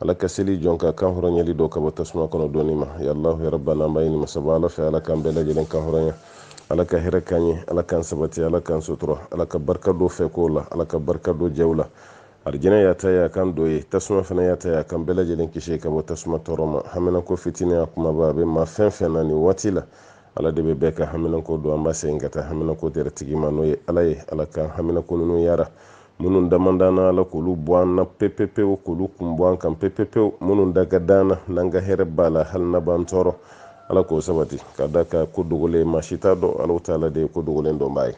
ala ka seli jɔn ka kan hɔrɔnyali don ka bɔ tasuma kɔnɔ don nin ma ya alahu ya rabana an b'a ɲini masaba ala fɛ ala k'an bɛɛ lajɛlen kan hɔrɔnya ala ka hɛrɛ k'an ye ala k'an sabati ala k'an sutura ala ka barika don fɛ kow la ala ka barika don jɛw la arijɛnɛ y'a ta ye a k'an don yen tasuma fana y'a ta ye a k'an bɛɛ lajɛlen kisi ka bɔ tasuma tɔɔrɔ ma haminanko fitinin a kumaba a bɛ maa fɛn fɛn na nin waati la ala de bɛ bɛɛ ka haminanko dɔn an b'a segin ka taa haminanko tɛrɛ tigi ma n'o ye ala ye ala k'an haminanko ninnu yara minnu damandana ala k'olu bɔ an na pepepewu k'olu kun bɔ an kan pepepewu minnu da ka dan na n'an ka hɛrɛ b'a la hali na b'an tɔɔrɔ ala k'o sabati ka d'a kan ko dogolen maa si t'a dɔn ala taala de ye ko dogolen dɔnbaa ye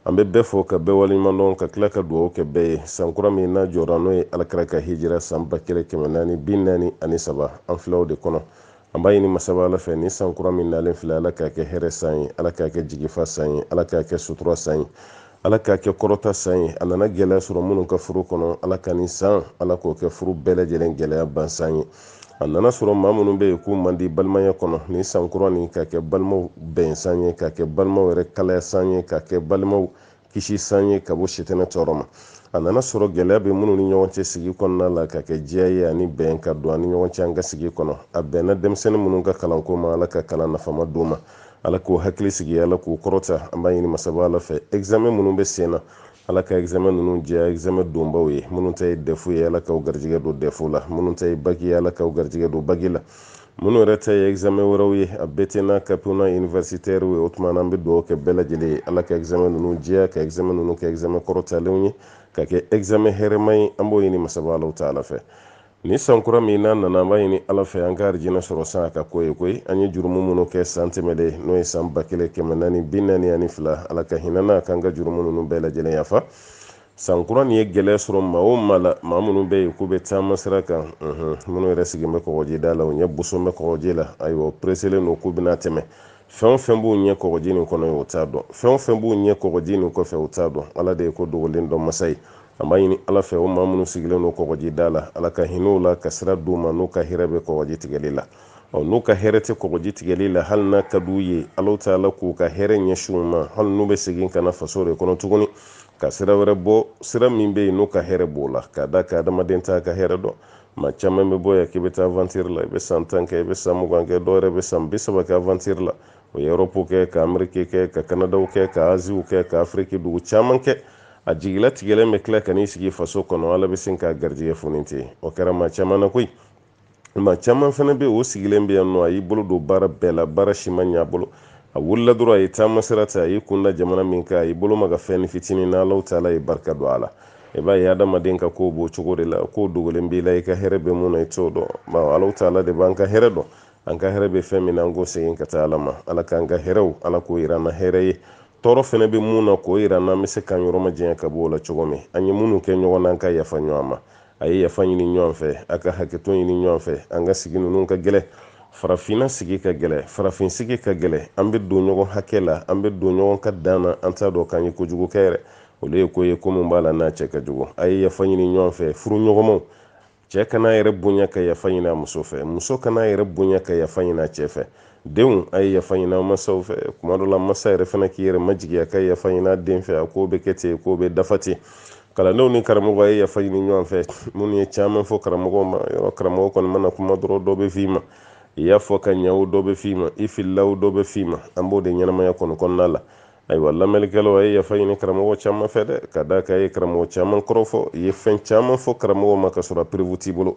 an bɛ bɛɛ fo ka bɛɛ waleɲuman dɔn ka tila ka dugawu kɛ bɛɛ ye san kura min n'a jɔra n'o ye ala kira ka hijira san ba kelen kɛmɛ naani bi naani ani saba an filɛ o de kɔnɔ an b'a ɲini masaba ala fɛ ni san kura min nalen filɛ ala k'a kɛ hɛrɛ san ye ala k'a kɛ jigifa san ye ala k'a kɛ sutura san ye ala k'a kɛ kɔrɔta san ye a nana gɛlɛya sɔrɔ minnu ka furu kɔnɔ ala ka ni san ala k'o kɛ furu bɛɛ lajɛlen gɛlɛya ban san ye a nana sɔrɔ maa minnu bɛ yen k'u man di balimaya kɔnɔ ni san kura nin ka kɛ balimaw bɛn san ye ka kɛ balimaw yɛrɛ kalaya san ye ka kɛ balimaw kisi san ye ka bɔ sitɛnɛ tɔɔrɔ ma a nana sɔrɔ gɛlɛya bɛ minnu ni ɲɔgɔn cɛ sigi kɔnɔ ala k'a kɛ diya ye ani bɛn ka don an ni ɲɔgɔn cɛ an ka sigi kɔnɔ a bɛnna denmisɛnnin minnu ka kalanko ma ala ka kalan nafama d'u ma ala k'u hakili sigi ala k'u kɔrɔta an b'a ɲini masaba ala fɛ examen minnu bɛ sen na ala ka examen ninnu diya examen donbaaw ye minnu ta ye dɛfu ye ala k'aw garijɛgɛ don dɛfu la minnu ta ye baki ye ala k'aw garijɛgɛ don baki la minnu yɛrɛ ta ye examen wɛrɛw ye a bete n'a kapu n'a universitaire ye o tuma na an bɛ dugawu kɛ bɛɛ lajɛlen ye ala ka examen ninnu diya ka examen ninnu kɛ examen kɔrɔtalenw ye ka kɛ examen hɛrɛma ye an b'o ɲini masaba alahu taala fɛ ni san kura min n'a nana an b'a ɲini ala fɛ an ka arijinɛ sɔrɔ san a ka k'o ye koyi an ye jurumu minnu kɛ san tɛmɛlen n'o ye san ba kelen kɛmɛ naani bi naani ani fila ala ka hinɛ an na k'an ka jurumu ninnu bɛɛ lajɛlen yafa san kura nin ye gɛlɛya sɔrɔ maa o maa la maa minnu bɛ yen k'u bɛ taama sira kan minnu yɛrɛ sigilen bɛ kɔgɔjida la u ɲɛ bosolen bɛ kɔgɔji la ayiwa u pereselen don k'u bɛna tɛmɛ fɛn o fɛn b'u ɲɛ kɔgɔji nin kɔnɔ u t'a dɔn fɛn o fɛn b'u ɲɛ kɔgɔji nin kɔfɛ u t'a dɔn ala de ye ko dogolen dɔn masa ye an b'a ɲini ala fɛ o maa minnu sigilen don kɔgɔjida la ala ka hinɛ u la ka sira d'u ma n'u ka hɛrɛ bɛ kɔgɔji tigɛli la ɔ n'u ka hɛrɛ tɛ kɔgɔji tigɛli la hali n'a ka d'u ye ala taala k'u ka hɛrɛ ɲɛsin u ma hali n'u bɛ segin ka na faso de kɔnɔ tuguni ka sira wɛrɛ bɔ sira min bɛ yen n'u ka hɛrɛ b'o la ka d'a kan adamaden t'a ka hɛrɛ dɔn maa caman bɛ bɔ yan k'i bɛ taa aventure la i bɛ san tan kɛ i bɛ san mugan kɛ dɔw yɛrɛ bɛ san bi saba kɛ aventure la u ye erɔpu kɛ ka ameriki kɛ ka kanadaw kɛ ka aziw kɛ ka afiriki dugu caman kɛ a jigilatigɛlen bɛ tila ka n'i sigi faso kɔnɔ ala bɛ sin k'a garijɛgɛ foni ten o kɛra maa caman na koyi maa caman fana bɛ o sigilen bɛ yan nɔ a y'i bolo don baara bɛɛ la baara si ma ɲɛ a bolo a wulila dɔrɔn a ye taama sira ta a y'i kun da jamana min kan a y'i bolo maga fɛn nin fitinin na alaw taala ye barika don a la i b'a ye adamaden ka kow b'o cogo de la kow dogolen b'i la i ka hɛrɛ bɛ mun na i t'o dɔn bawo alaw taala de b'an ka hɛrɛ dɔn an ka hɛrɛ bɛ fɛn min na an k'o segin ka taa ala ma ala k'an ka hɛrɛw ala k'o yira an na hɛrɛ ye tɔɔrɔ fɛnɛ bɛ mun na k'o yira an na an bɛ se k'an yɔrɔ majanya ka bɔ o la cogo min an ye minnu kɛ ɲɔgɔn na an ka yafa ɲɔgɔn ma a ye yafa ɲini ɲɔgɔn fɛ a ka hakɛto ɲini ɲɔgɔn fɛ an ka sigi ninnu ka gɛlɛ farafinna sigi ka gɛlɛ farafin sigi ka gɛlɛ an bɛ don ɲɔgɔn hakɛ la an bɛ don ɲɔgɔn ka dan na an t'a dɔn k'an ye kojugu kɛ yɛrɛ olu ye ko ye ko min b'a la n'a cɛ ka jugu a ye yafa ɲini ɲɔgɔn fɛ furuɲɔgɔnmaw cɛ kan'a yɛrɛ bonya ka yafa ɲini a muso fɛ muso kan'a yɛrɛ bonya ka yafa ɲini a cɛ fɛ denw a ye yafa ɲini a masaw fɛ tuma dɔ la masa yɛrɛ fana k'i yɛrɛ majigi a ka yafa ɲini a den fɛ a ko bɛ kɛ ten ko bɛ dafa ten kalandenw ni karamɔgɔ a ye yafa ɲini ɲɔgɔn fɛ minnu ye caman fɔ karamɔgɔ ma yɔrɔ karamɔgɔ kɔni mana kuma dɔrɔn dɔ bɛ f'i ma i y'a fɔ ka ɲɛ o dɔ bɛ f'i ma i filila o dɔ bɛ f'i ma an b'o de ɲɛnamaya kɔni kɔnɔna la ayiwa lamɛnnikɛlaw a ye yafa ɲini karamɔgɔ caman fɛ dɛ ka d'a kan a ye karamɔgɔ caman kɔrɔfɔ i ye fɛn caman fɔ karamɔgɔ ma ka sɔrɔ perewu t'i bolo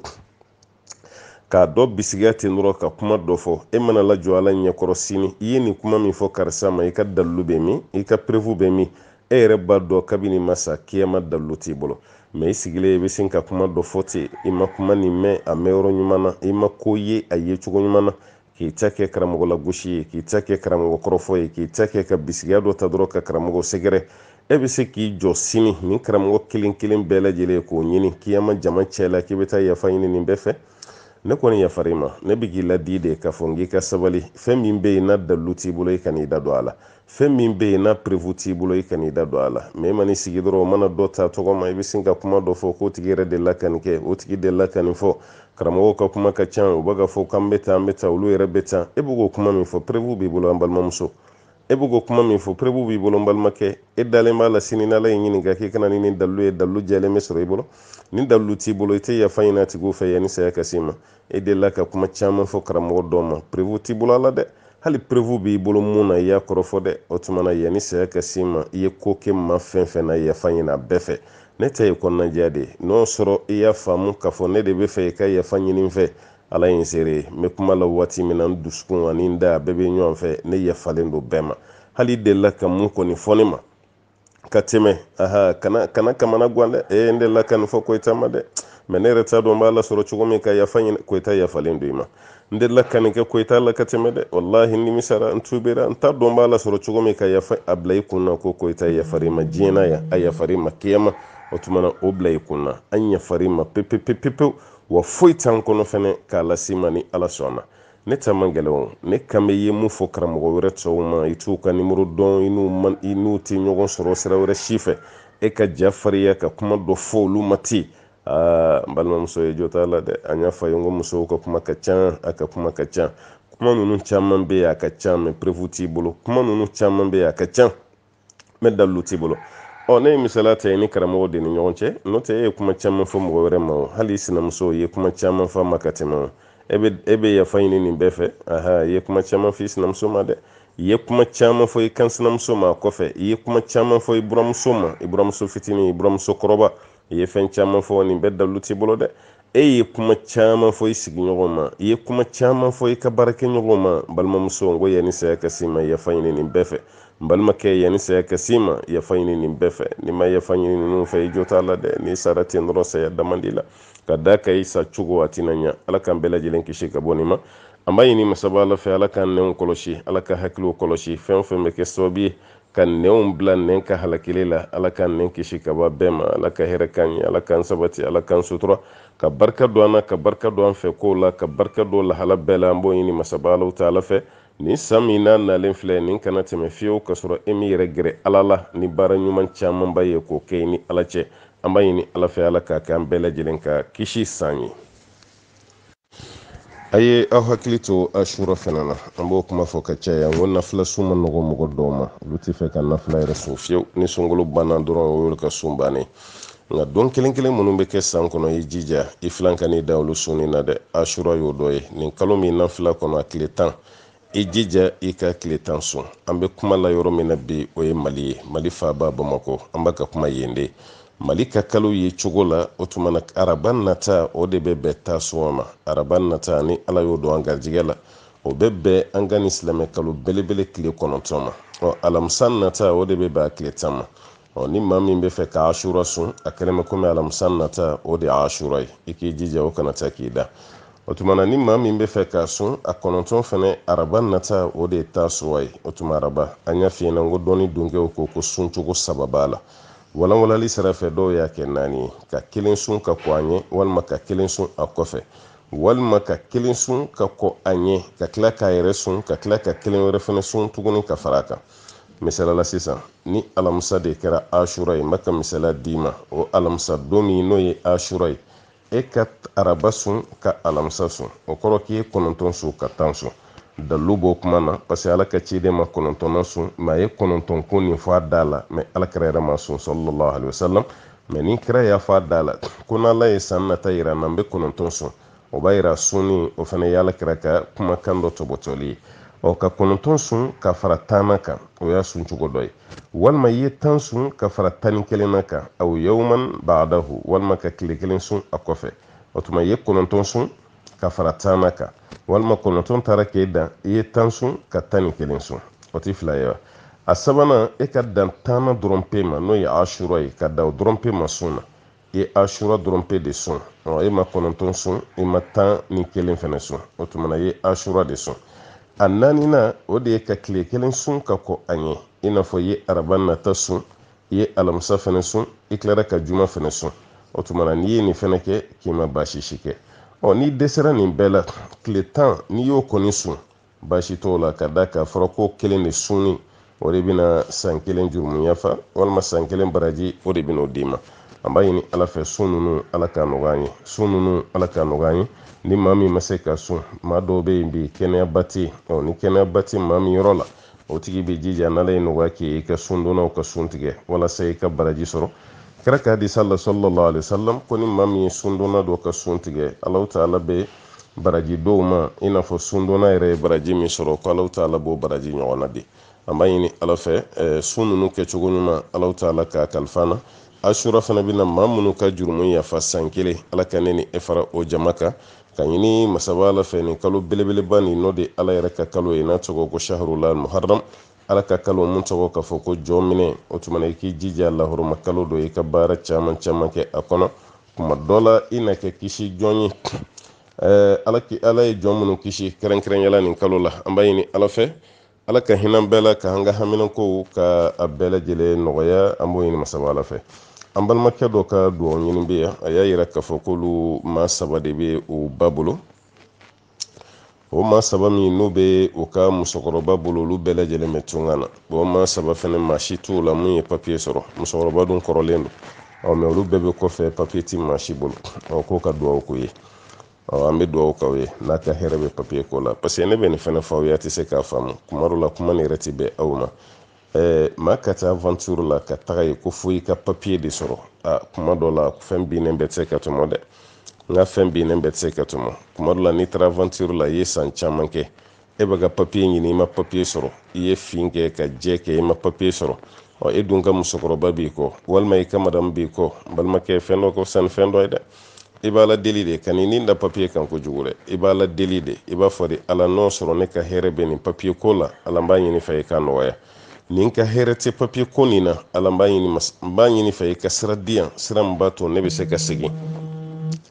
ka dɔ bisigiya ten dɔrɔn ka kuma dɔ fɔ e mana lajɔ ala ɲɛkɔrɔ sini i ye nin kuma min fɔ karisa ma i ka dalilu bɛ min i ka perewu bɛ min e yɛrɛ b'a dɔn kabini i ma sa kiyama dalilu t'i bolo mɛ i sigilen i bɛ sin ka kuma dɔ fɔ ten i ma kuma nin mɛn a mɛn yɔrɔ ɲuman na i ma ko ye a ye cogo ɲuman na k'i ta kɛ karamɔgɔ lagosi ye k'i ta kɛ karamɔgɔ kɔrɔfɔ ye k'i ta kɛ ka bisigiya dɔ ta dɔrɔn ka karamɔgɔ sɛgɛrɛ e bɛ se k'i jɔ sini nin karamɔgɔ kelen kelen bɛɛ lajɛlen k'o ɲini kiyama jama cɛ la k'i bɛ taa yafa ɲini nin bɛɛ fɛ ne kɔni yafar'i ma ne bɛ k'i laadi de k'a fɔ n k'i ka sabali fɛn min bɛ yen n'a dalu t'i bolo i kan'i da don a la fɛn min bɛ yen n'a perewu t'i bolo i kan'i da don a la mɛ i man'i sigi dɔrɔn o mana dɔ ta tɔgɔ ma i bɛ sin ka kuma dɔ fɔ k'o tigi yɛrɛ delila ka nin kɛ o tigi delila ka nin fɔ karamɔgɔw ka kuma ka ca u bɛ k'a fɔ k'an bɛ taa an bɛ taa olu yɛrɛ bɛ taa e bɛ k'o kuma min fɔ perewu b'i bolo an balimamuso e bɛ k'o kuma min fɔ perewu b'i bolo n balimakɛ e dalen b'a la sini n'ala y'i ɲininka k'i ka na ni nin dalilu ye dalilu jɛlen bɛ sɔrɔ i bolo ni dalilu t'i bolo i tɛ yafa ɲini a tigiw fɛ yanni saya ka s'i ma e delila ka kuma caman fɔ karamɔgɔ dɔ ma perewu t'i bolo a la dɛ hali perewu b'i bolo mun na i y'a kɔrɔfɔ dɛ o tuma na yanni saya ka s'i ma i ye ko kɛ maa fɛn fɛn na yafa ɲini a bɛɛ fɛ ne ta ye kɔnɔnajɛya de ye n'o sɔrɔ i y'a faamu k'a fɔ ne de b'a fɛ i ka yafa ɲini n fɛ ala ye n seere ye n bɛ kuma la waati min na n dusukun ani n da a bɛɛ bɛ ɲɔgɔn fɛ ne yafalen don bɛɛ ma hali i delila ka mun kɔni fɔ ne ma ka tɛmɛ aha kana kana kamana gan dɛ ee n delila ka nin fɔ koyita ma dɛ mɛ ne yɛrɛ t'a dɔn n b'a lasɔrɔ cogo min ka yafa ɲini koyita yafalen don i ma n delila ka nin kɛ koyita la ka tɛmɛ dɛ walahi n nimisara n tubera n t'a dɔn n b'a lasɔrɔ cogo min ka yafa a bila i kun na ko koyita yafar'i ma diɲɛ na yan a yafar'i ma kiyama o tuma na o bila i kun na an yafar'i ma pepepepepewu wa foyi t'an kɔnɔ fɛnɛ k'a las'i ma ni ala sɔnna ne ta man gɛlɛn o ne kan bɛ ye mun fɔ karamɔgɔ wɛrɛ tɔw ma i t'u ka nimoro dɔn i n'u man i n'u tɛ ɲɔgɔn sɔrɔ sira wɛrɛ si fɛ e ka ja fariya ka kuma dɔ fɔ olu ma ten aa n balimamuso i jo t'a la dɛ an y'a fɔ a ye n ko musow ka kuma ka ca a ka kuma ka ca kuma ninnu caman bɛ yen a ka ca mɛ preuve t'i bolo kuma ninnu caman bɛ yen a ka ca mɛ dalilu t'i bolo ɔ ne ye misaliya ta i ni karamɔgɔ de ni ɲɔgɔn cɛ n'o tɛ e ye kuma caman fɔ mɔgɔ wɛrɛ ma o hali i sinamuso i ye kuma caman fɔ a ma ka tɛmɛ o e bɛ e bɛ yafa ɲini nin bɛɛ fɛ aha i ye kuma caman fɔ i sinamuso ma dɛ i ye kuma caman fɔ i kansinamuso ma a kɔfɛ i ye kuma caman fɔ i buramuso ma i buramuso fitinin i buramuso kɔrɔba i ye fɛn caman fɔ nin bɛɛ dalilu t'i bolo dɛ e ye kuma caman fɔ i sigiɲɔgɔn ma i ye kuma caman fɔ i ka baarakɛɲɔgɔn ma balimamuso n ko yanni saya ka s'i ma yafa ɲini nin bɛɛ fɛ n balimakɛ yanni saya ka s'i ma yafa ɲini nin bɛɛ fɛ n'i ma yafa ɲini ninnu fɛ i jo t'a la dɛ n'i sara ten dɔrɔn saya dama di la ka da ka i sa cogo a tɛna ɲa ala k'an bɛɛ lajɛlen kisi ka bɔ nin ma an b'a ɲini masaba ala fɛ ala k'an nɛnw kɔlɔsi ala k'an hakiliw kɔlɔsi fɛn o fɛn bɛ kɛ sababu ye ka nɛnw bila nɛn ka halakili la ala k'an nɛn kisi ka b'a bɛɛ ma ala ka hɛrɛ k'an ye ala k'an sabati ala k'an sutura ka barika don an na ka barika don an fɛ kow la ka barika don lahala bɛɛ la an b'o ɲini masaba alahu taala fɛ nin san min n'a nalen filɛ nin kana tɛmɛ fiyewu ka sɔrɔ e m'i yɛrɛ gɛrɛ ala la ni baara ɲuman camanba ye k'o kɛ i ni ala cɛ an b'a ɲini ala fɛ ala k'a kɛ an bɛɛ lajɛlen ka kisi san ye a ye aw hakili to asura fana na an b'o kuma fɔ ka caya n ko nafila sun man nɔgɔ mɔgɔ dɔw ma olu tɛ fɛ ka nafila yɛrɛ sun fiyewu ni sunkalo banna dɔrɔn o y'olu ka sun bannen nka don kelen kelen minnu bɛ kɛ san kɔnɔ i jija i filan kan'i dan olu sunni na dɛ asura y'o dɔ ye nin kalo min n'an fil'a kɔnɔ a tile tan i jija i k'a tile tan sun an bɛ kuma la yɔrɔ min na bi o ye mali ye mali faaba bamakɔ an bɛ ka kuma yen de mali ka kalo ye cogo la o tuma na araba nata o de bɛ bɛn taasuwa ma araba nata ni ala y'o don an garijɛgɛ la o bɛ bɛn an ka nin silamɛ kalo belebele tile kɔnɔntɔn ma ɔ alamisa nata o de bɛ bɛn a tile tan ma ɔ ni maa min bɛ fɛ ka asura sun a kɛlen bɛ komi alamisa nata o de ye asura ye i k'i jija o kana taa k'i dan o tuma na ni maa min bɛ fɛ ka sun a kɔnɔntɔn fana araba nata o de ye taasuwa ye o tuma araba an y'a f'i ɲɛna n ko dɔnni dunkɛw ko ko sun cogo saba b'a la walanwalali sira fɛ dɔw y'a kɛ naani ye ka kelen sun ka kɔn a ɲɛ walima ka kelen sun a kɔfɛ walima ka kelen sun ka kɔn a ɲɛ ka tila k'a yɛrɛ sun ka tila ka kelen wɛrɛ fana sun tuguni ka fara a kan misali la sisan ni alamisa de kɛra asura ye n bɛ ka misaliya d'i ma o alamisa don min n'o ye asura ye e ka araba sun ka alamisa sun o kɔrɔ k'i ye kɔnɔntɔn sun ka tan sun dalilu b'o kuma na parce que ala ka ciden ma kɔnɔntɔnna sun mɛ a ye kɔnɔntɔn ko nin fɔ a da la mɛ alakira yɛrɛ ma sun sallallahu alaihi wasallam mɛ ni kira y'a fɔ a da la ko n'ala ye san nata yira n na n bɛ kɔnɔntɔn sun o b'a yira sunni o fana ye alakira ka kumakan dɔ tɔbɔtɔli ye ɔ ka kɔnɔntɔn sun ka fara tan na kan o y'a sun cogo dɔ ye walima i ye tan sun ka fara tan ni kelen na kan aw yawman baadahu walima ka tile kelen sun a kɔfɛ o tuma i ye kɔnɔntɔn sun ka fara tan na kan walima kɔnɔntɔn taara k'e dan i ye tan sun ka tan ni kelen sun o tɛ fila ye wa a sabanan e ka dan tanna dɔrɔn pe ma n'o ye asura ye ka dan o dɔrɔn pe ma sun na i ye asura dɔrɔn pe de sun ɔ e ma kɔnɔntɔn sun i ma tan ni kelen fɛnɛ sun o tuma na i ye asura de sun a naaninan o de ye ka tile kelen sun ka kɔn a ɲɛ i n'a fɔ i ye araba nata sun i ye alamisa fɛnɛ sun i tilara ka juma fɛnɛ sun o tuma na n'i ye nin fɛnɛ kɛ k'i ma baasi si kɛ ɔ n'i dɛsɛra nin bɛɛ la tile tan n'i y'o kɔni sun baasi t'o la ka d'a kan a fɔra k'o kelen de sunni o de bɛna san kelen jurumu yafa walima san kelen baraji o de bɛna o d'i ma an b'a ɲini ala fɛ sun ninnu ala k'a nɔgɔya an ye sun ninnu ala k'a nɔgɔya an ye ni maa min ma se ka sun maa dɔw bɛ yen bi kɛnɛyaba tɛ yen ɔ ni kɛnɛyaba tɛ maa min yɔrɔ la o tigi bɛ jija n'ala ye nɔgɔya k'i ye i ka sundonnaw ka sun tigɛ walasa i ka baraji sɔrɔ kira ka hadisa la sallallahu alaihi wasallam ko ni maa min ye sundonna dɔ ka sun tigɛ alahu taala bɛ baraji d'o ma i n'a fɔ sundonna yɛrɛ ye baraji min sɔrɔ ko alahu taala b'o baraji ɲɔgɔnna di an b'a ɲini ala fɛ eh, sun ninnu kɛcogo ɲuman alahu taala k'a kalifa an na asura fana bɛna maa minnu ka jurumu yafa san kelen ala ka ne ni e fara o jama kan k'a ɲini masaba ala fɛ nin kalo belebeleba nin n'o de ala yɛrɛ ka kalo ye n'a tɔgɔ ko shahrullah muharram ala ka kalo mun tɔgɔ k'a fɔ ko jɔminɛ o tuma na i k'i jija lahɔrɔma kalo don i ka baara caman caman kɛ a kɔnɔ kuma dɔ la i na kɛ kisi jɔn ye ɛɛ ala ki ala ye jɔn minnu kisi kɛrɛnkɛrɛnya la nin kalo la an b'a ɲini ala fɛ ala ka hinɛ bɛɛ la k'an ka haminankow ka a bɛɛ lajɛlen nɔgɔya an b'o ɲini masaba ala fɛ an balimakɛ dɔ ka dugawu ɲini bɛ yan a y'a yira k'a fɔ k'olu maa saba de bɛ o ba bolo o maa saba min n'o bɛ o ka musokɔrɔba bolo olu bɛɛ lajɛlen bɛ tunga na o maa saba fɛnɛ maa si t'o la mun ye papiye sɔrɔ musokɔrɔba dun kɔrɔlen don mɛ olu bɛɛ bɛ kɔfɛ papiye ti maa si bolo k'o ka dugawu k'o ye an bɛ dugawu k'aw ye n'a ka hɛrɛ bɛ papiye ko la paseke ne bɛ nin fɛnɛ fɔ aw ye a tɛ se k'a faamu kuma dɔ la kuma nin yɛrɛ ti bɛn aw ma eh, maa ka taa aventure la ka taga yen ko fo i ka papier de sɔrɔ a kuma dɔ la fɛn binnen bɛɛ tɛ se ka tɔmɔ dɛ nka fɛn binnen bɛɛ tɛ se ka tɔmɔ kuma dɔ la n'i taara aventure la i ye san caman kɛ e bɛ ka papier ɲini i ma papier sɔrɔ i ye fin kɛ ka jɛ kɛ i ma papier sɔrɔ ɔ e dun ka musokɔrɔba b'i kɔ walima i ka madamu b'i kɔ balimakɛ fɛn dɔ ka fisa ni fɛn dɔ ye dɛ i b'ala deli de kan'i ni da papiye kan kojugu dɛ i b'ala deli de i b'a fɔ de ala n'o sɔrɔ ne ka hɛrɛ bɛ nin papiye ko la ala n b'a ɲini i fɛ i k'a nɔgɔya ni n ka hɛrɛ tɛ papiye ko nin na ala n b'a ɲini b'a ɲini i fɛ i ka sira di yan sira min b'a to ne bɛ se ka segin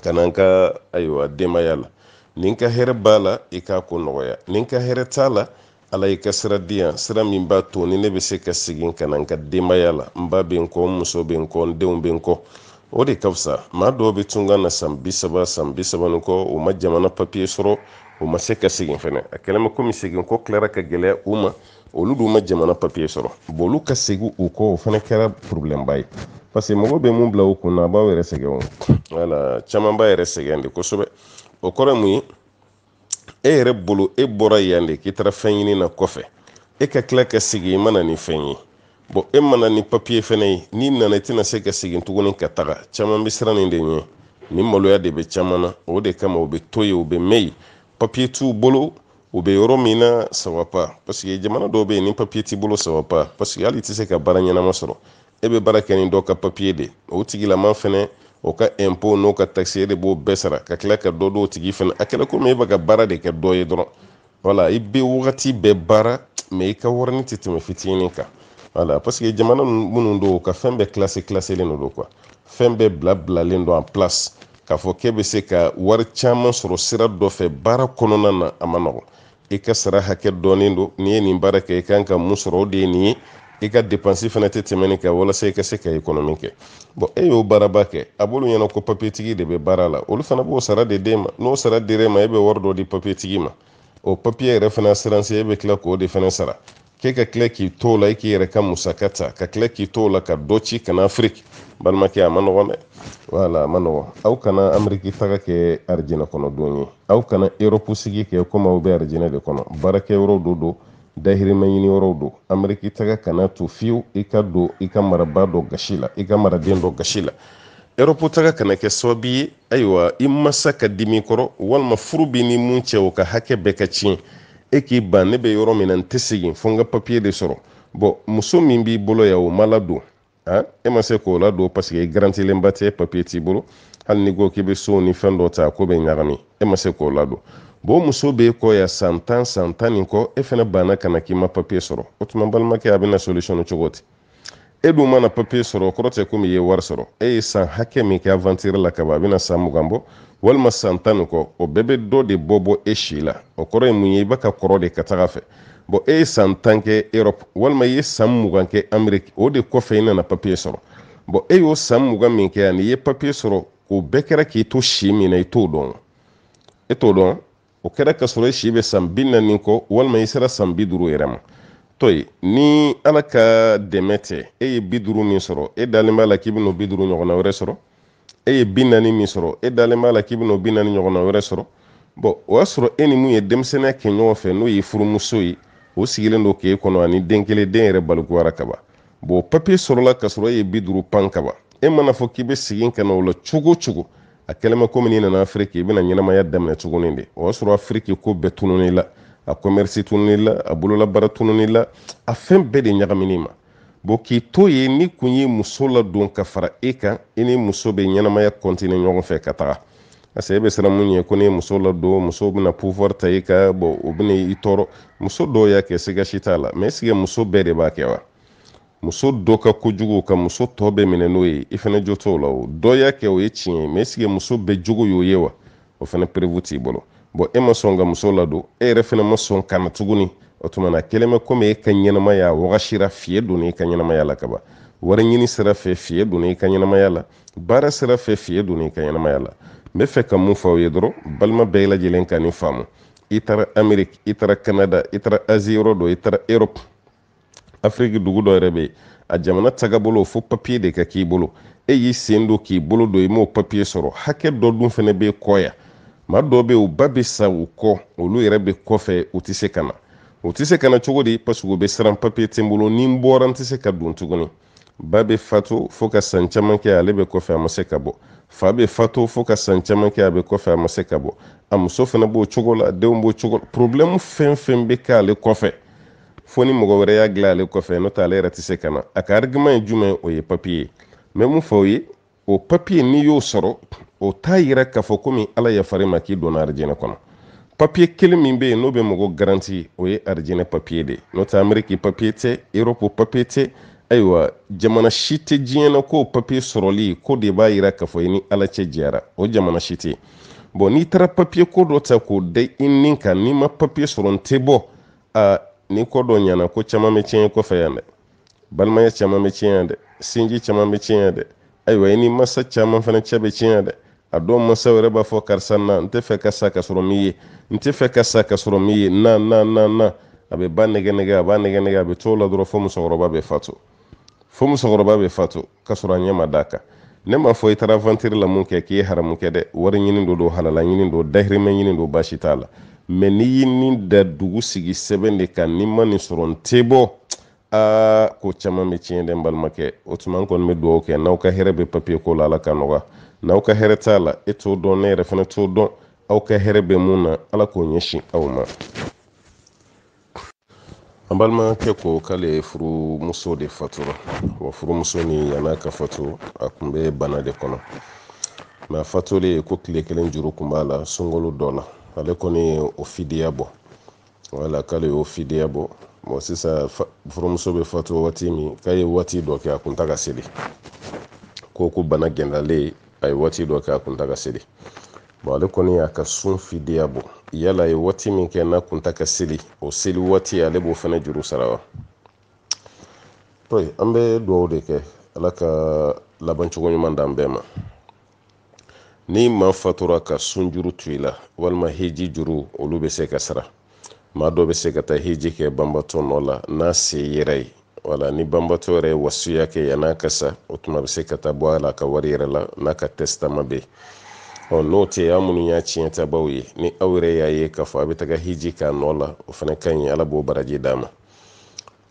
ka na n ka ayiwa denbaya la ni n ka hɛrɛ b'a la i k'a ko nɔgɔya ni n ka hɛrɛ t'a la ala i ka sira di yan sira min b'a to ni ne bɛ se ka segin ka na n ka denbaya la n ba bɛ n kɔ n muso bɛ n kɔ n denw bɛ n kɔ o de ka fisa maa dɔw bɛ tunga na san bi saba san bi saba ni kɔ u ma jamana papiye sɔrɔ u ma se ka segin fɛnɛ a kɛlen bɛ komi segin ko tilara ka gɛlɛya u ma olu dun ma jamana papiye sɔrɔ bon olu ka segin u kɔ o fana kɛra porobilɛmba ye paseke mɔgɔ bɛ mun bila u kun na a b'aw yɛrɛ sɛgɛn o wala caman b'a yɛrɛ sɛgɛn de kosɛbɛ o kɔrɔ ye mun ye e yɛrɛ bolo e bɔra yan de k'i taara fɛn ɲini na kɔfɛ e ka tila ka segin i ma na ni fɛn ye bɔn e ma na ni papiye fɛnɛ ye n'i nana i tɛna se ka segin tuguni ka taga caman bɛ siran nin de ɲɛ nin maloya de bɛ caman na o de kama u bɛ to yen u bɛ mɛn yen papiye t'u bolo u bɛ yɔrɔ min na ça va pas paseke jamana dɔw bɛ yen ni papiye t'i bolo ça va pas paseke hali i tɛ se ka baara ɲɛnama sɔrɔ e bɛ baara kɛ ni dɔ ka papiye de o tigilama fɛnɛ o ka ɛnpo n'o ka takisi e de b'o bɛɛ sara ka tila ka dɔ d'o tigi fɛnɛ a kɛra komi e bɛ ka baara de kɛ dɔ ye dɔrɔn wala i bɛ wagati bɛɛ baara mɛ i ka warini tɛ tɛmɛ fitinin kan wala paseke jamana minnu don k'a fɛn bɛɛ kilase kilaselen don kuwa fɛn bɛɛ bila bilalen don en place k'a fɔ k'e bɛ se ka wari caman sɔrɔ sira dɔ fɛ baara kɔnɔna na a ma nɔgɔn i ka sara hakɛ dɔnnen don n'i ye nin baara kɛ i kan ka mun sɔrɔ o de ye nin ye i ka depansi fana tɛ tɛmɛ nin kan walasa i ka se ka ekɔnɔmi kɛ bɔn e y'o baaraba kɛ a b'olu ɲɛna ko papiyetigi de bɛ baara la olu fana b'o sara de d'e ma n'o sara dir'e ma e bɛ wari dɔ di papiyetigi ma o papiye yɛrɛ fana asiransi e bɛ tila k'o de fana sara k'e ka tila k'i to la i k'i yɛrɛ ka musaka ta ka tila k'i to la ka dɔ ci ka na afiriki balimakɛ a ma nɔgɔn dɛ wala a ma nɔgɔn aw kana ameriki taga kɛ arijinɛ kɔnɔ don ye aw kana erɔpu sigi kɛ komi aw bɛ arijinɛ de kɔnɔ baarakɛ yɔrɔw de don dahirimɛ ɲini yɔrɔw don ameriki taga kana to fiyewu i ka don i ka maraba dɔ gasi la i ka maraden dɔ gasi la erɔpu taga kana kɛ sababu ye ayiwa i masa ka dimi i kɔrɔ walima furu b'i ni mun cɛ o ka hakɛ bɛɛ ka tiɲɛ e k'i ban ne bɛ yɔrɔ min na n tɛ segin fo n ka papiye de sɔrɔ bɔn muso min b'i bolo yan o ma ladon han e ma se k'o ladon paseke e garantilenba tɛ papiye t'i bolo hali n'i ko k'i bɛ so ni fɛn dɔ ta ko bɛ ɲagami e ma se k'o ladon bɔn muso b'e kɔ yan san tan san tan ni kɔ e fana banna ka na k'i ma papiye sɔrɔ o tuma balimakɛ a bɛna solisɔn cogo di e dun mana papiye sɔrɔ o kɔrɔ tɛ komi i ye wari sɔrɔ e ye san hakɛ min kɛ avantire la kaban a bɛna san mugan bɔ walima san tan ni kɔ o bɛɛ bɛ dɔ de bɔ bɔ e si la o kɔrɔ ye mun ye i bɛ ka kɔrɔ de ka taga fɛ bɔn e ye san tan kɛ europe walima i ye san mugan kɛ ameriki o de kɔfɛ i nana papiye sɔrɔ bɔn e y'o san mugan min kɛ ani i ye papiye sɔrɔ o bɛɛ kɛra k'i to si min na i t'o dɔn e t'o dɔn o kɛra k'a sɔrɔ i si bɛ san bi naani kɔ walima i sera san bi duuru yɛrɛ ma to yen ni ala ka dɛmɛ tɛ e ye bi duuru min sɔrɔ e dalen b'a la k'i bɛn'o bi duuru ɲɔgɔnna wɛrɛ sɔrɔ e ye bi naani min sɔrɔ e dalen b'a la k'i bɛn'o bi naani ɲɔgɔnna wɛrɛ sɔrɔ bɔn o y'a sɔrɔ e ni mun ye denmisɛnninya kɛ ɲɔgɔn fɛ n'o ye furumuso ye o sigilen don k'e kɔnɔ ani den kelen den yɛrɛ balikuyara kaban bɔn papiye sɔrɔla k'a sɔrɔ e ye bi duuru pan kaban e mana fɔ k'i bɛ segin ka na o la cogo o cogo a kɛlen bɛ komi n'i nana afiriki i bɛna ɲɛnamaya daminɛ tuguni de o y'a sɔrɔ afiriki ko bɛɛ tununn'i la a kɔmɛrisi tununn'i la a bololabaara tununn'i la a fɛn bɛɛ de ɲagamin'i ma bon k'i to yen n'i kun ye muso ladon ka fara e kan i ni muso bɛ ɲɛnamaya continuer ɲɔgɔn fɛ ka taga parce que e bɛ siran mun ɲɛ ko ni muso ladon muso bɛna pouvoir ta i kan bon o bɛna i tɔɔrɔ muso dɔw y'a kɛ siga si t'a la mais est ce que muso bɛɛ de b'a kɛ wa muso dɔ ka kojugu ka muso tɔ bɛɛ minɛ n'o ye i fana jo t'o la o dɔ y'a kɛ o ye tiɲɛ ye mɛ esike muso bɛɛ jogo y'o ye wa o fana perewu t'i bolo bɔn e ma sɔn ka muso ladon e yɛrɛ fana ma sɔn ka na tuguni o tuma n'a kɛlen bɛ komi e ka ɲɛnamaya wagasira fiyɛn donna i ka ɲɛnamaya la kaban wari ɲini sira fɛ fiyɛn donna i ka ɲɛnamaya la baara sira fɛ fiyɛn donna i ka ɲɛnamaya la n bɛ fɛ ka mun fɔ aw ye dɔrɔn balima bɛɛ lajɛlen ka nin faamu i taara ameriki i taara kanada i taara azi yɔrɔ dɔ i taara erope afiriki dugu dɔ yɛrɛ bɛ yen a jamana tagabolo fo papiye de ka k'i bolo e y'i sen don k'i bolo don i m'o papiye sɔrɔ hakɛ dɔ dun fana b'e kɔ yan maa dɔw bɛ yen u ba bɛ sa u kɔ olu yɛrɛ bɛ kɔfɛ u tɛ se ka na u tɛ se ka na cogo di paseke u bɛ siran papiye tɛ n bolo ni n bɔra n tɛ se ka don tuguni ba bɛ fatu fo ka san caman kɛ ale bɛ kɔfɛ a ma se ka bɔ fa bɛ fatu fo ka san caman kɛ a bɛ kɔfɛ a ma se ka bɔ a muso fana b'o cogo la denw b'o cogo la porobilɛmu fɛn fɛn bɛ k'ale kɔfɛ fo ni mɔgɔ wɛrɛ y'a dilan ale kɔfɛ n'o tɛ ale yɛrɛ tɛ se ka na a ka arigima ye jumɛn o ye papiye ye mɛ mun fɔ aw ye o papiye n'i y'o sɔrɔ o t'a yira k'a fɔ komi ala yafar'i ma k'i donna arijinɛ kɔnɔ papiye kelen min bɛ yen n'o bɛ mɔgɔ garanti o ye arijinɛ papiye de ye n'o tɛ ameriki papiye tɛ eropu papiye tɛ ayiwa jamana si tɛ diɲɛ na k'o papiye sɔrɔli ko de b'a yira k'a fɔ i ni ala cɛ jɛyara o jamana si tɛ bɔn n'i taara papiye ko dɔ ta k'o da i ni kan n'i ma papiye sɔrɔ n tɛ bɔ aa ni ko dɔ ɲɛna ko caman bɛ tiɲɛ kɔfɛ yan dɛ balimaya caman bɛ tiɲɛ yan dɛ sinji caman bɛ tiɲɛ yan dɛ ayiwa i ni masa caman fana cɛ bɛ tiɲɛ yan dɛ a dɔw masa yɛrɛ b'a fɔ karisa na n tɛ fɛ ka sa ka sɔrɔ n m'i ye n tɛ fɛ ka sa ka sɔrɔ n m'i ye na na na na a bɛ ba nɛgɛ nɛgɛ a b'a nɛgɛ nɛgɛ a bɛ t'o la dɔrɔn fo musokɔrɔba bɛ fatu fo musokɔrɔba bɛ fatu ka sɔrɔ a ɲɛ ma d'a kan ne m'a fɔ i taara vantiri la mun kɛ k'i ye haramu kɛ dɛ wari ɲini don don halala ɲini don dahirimɛ ɲini don baasi t'a la mɛ n'i y'i ni da dugu sigi sɛbɛn de kan n'i ma nin sɔrɔ n tɛ bɔ aa ko caman bɛ tiɲɛ dɛ n balimakɛ o tuma n kɔni bɛ dugawu kɛ n'aw ka hɛrɛ bɛ papiye ko la ala ka nɔgɔya n'aw ka hɛrɛ t'a la e t'o dɔn ne yɛrɛ fana t'o dɔn aw ka hɛrɛ bɛ mun na ala k'o ɲɛsin aw ma an balimakɛ ko k'ale furumuso de fatura wa furumuso ni yan'a ka fatu a tun bɛ bana de kɔnɔ mɛ a fatulen ko tile kelen juru kun b'a la sunkalo dɔ la ale kɔni ye o fidiya bɔ wala k'ale y'o fidiya bɔ bon sisan furumuso bɛ fatu waati min k'a ye waati dɔ kɛ a kun tɛ ka seli ko ko bana gɛlɛyalen a ye waati dɔ kɛ a kun tɛ ka seli bɔn ale kɔni y'a ka sun fidiya bɔ yala a ye waati min kɛ n'a kun tɛ ka seli o seli waati ale b'o fana juru sara wa an bɛ dugawu de kɛ ala ka laban cogo ɲuman d'an bɛɛ ma ni maa fatura ka sun juru to i la walima heji juru olu bɛ se ka sara maa dɔ bɛ se ka taa hiji kɛ banbatɔ nɔ la n'a se yɛrɛ ye wala ni banbatɔ yɛrɛ ye wasiya kɛ yan'a ka sa o tuma bɛ se ka taa bɔ a la a ka wari yɛrɛ la n'a ka tɛsitama bɛ yen ɔ n'o tɛ aw minnu y'a tiɲɛ tabaw ye ni aw yɛrɛ y'a ye k'a fɔ a bɛ taga hiji k'a nɔ la o fana ka ɲi ala b'o baraji d'a ma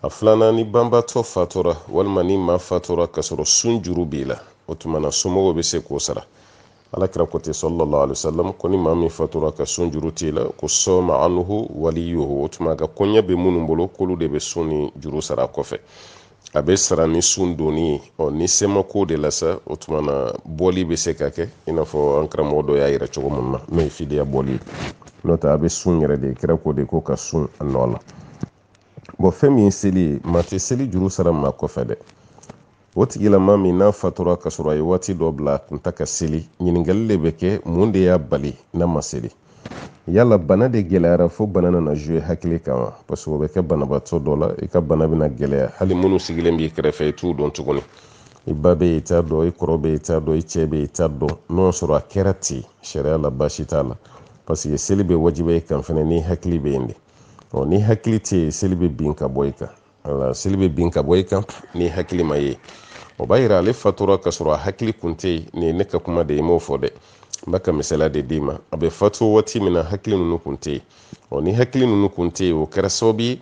a filanan ni banbatɔ fatura walima ni maa fatura k'a sɔrɔ sun juru b'i la o tuma na somɔgɔw bɛ se k'o sara alakira ko ten sallallahu alaihi wasallam ko ni maa min fatura ka sun juru t'i la ko sɔma anhu waliyuhu o tuma a ka koɲɛ bɛ minnu bolo k'olu de bɛ sun nin juru sara kɔfɛ a bɛ sara ni sun donni ye ɔ ni se ma k'o de la sa o tuma na bɔli bɛ se ka kɛ i n'a fɔ an karamɔgɔ dɔ y'a yira cogo min na n'o ye fidiya bɔli ye n'o tɛ a bɛ sun yɛrɛ de kira ko de ko ka sun a nɔ la bɔn fɛn min ye seli ye maa tɛ seli juru sara maa kɔfɛ dɛ o tigilama min n'a fatura ka sɔrɔ a ye waati dɔ bila a kun ta ka seli ɲininkali de bɛ kɛ mun de y'a bali n'a ma seli yala bana de gɛlɛyara fo bana nana jouer hakili kan wa parce que o bɛ kɛ banabaatɔ dɔ la i ka bana bɛna gɛlɛya hali minnu sigilen b'i kɛrɛfɛ i t'u dɔn tuguni i ba bɛ yen i t'a dɔn i kɔrɔ bɛ yen i t'a dɔn i cɛ bɛ yen i t'a dɔn n'o sɔrɔ a kɛra ten sariya la baasi t'a la parce que seli bɛ wajibiya i kan fɛnɛ ni hakili bɛ yen de ɔ ni hakili tɛ yen seli bɛ bin ka bɔ i kan wala seli bɛ bin ka bɔ i kan ni hakili ma ye o b'a yira ale fatura ka sɔrɔ a hakili kun tɛ yen nin ye ne ka kuma de ye i m'o fɔ dɛ n bɛ ka misaliya de d'i ma a bɛ fatu waati min na hakili ninnu kun tɛ yen ɔ ni hakili ninnu kun tɛ yen o kɛra sababu ye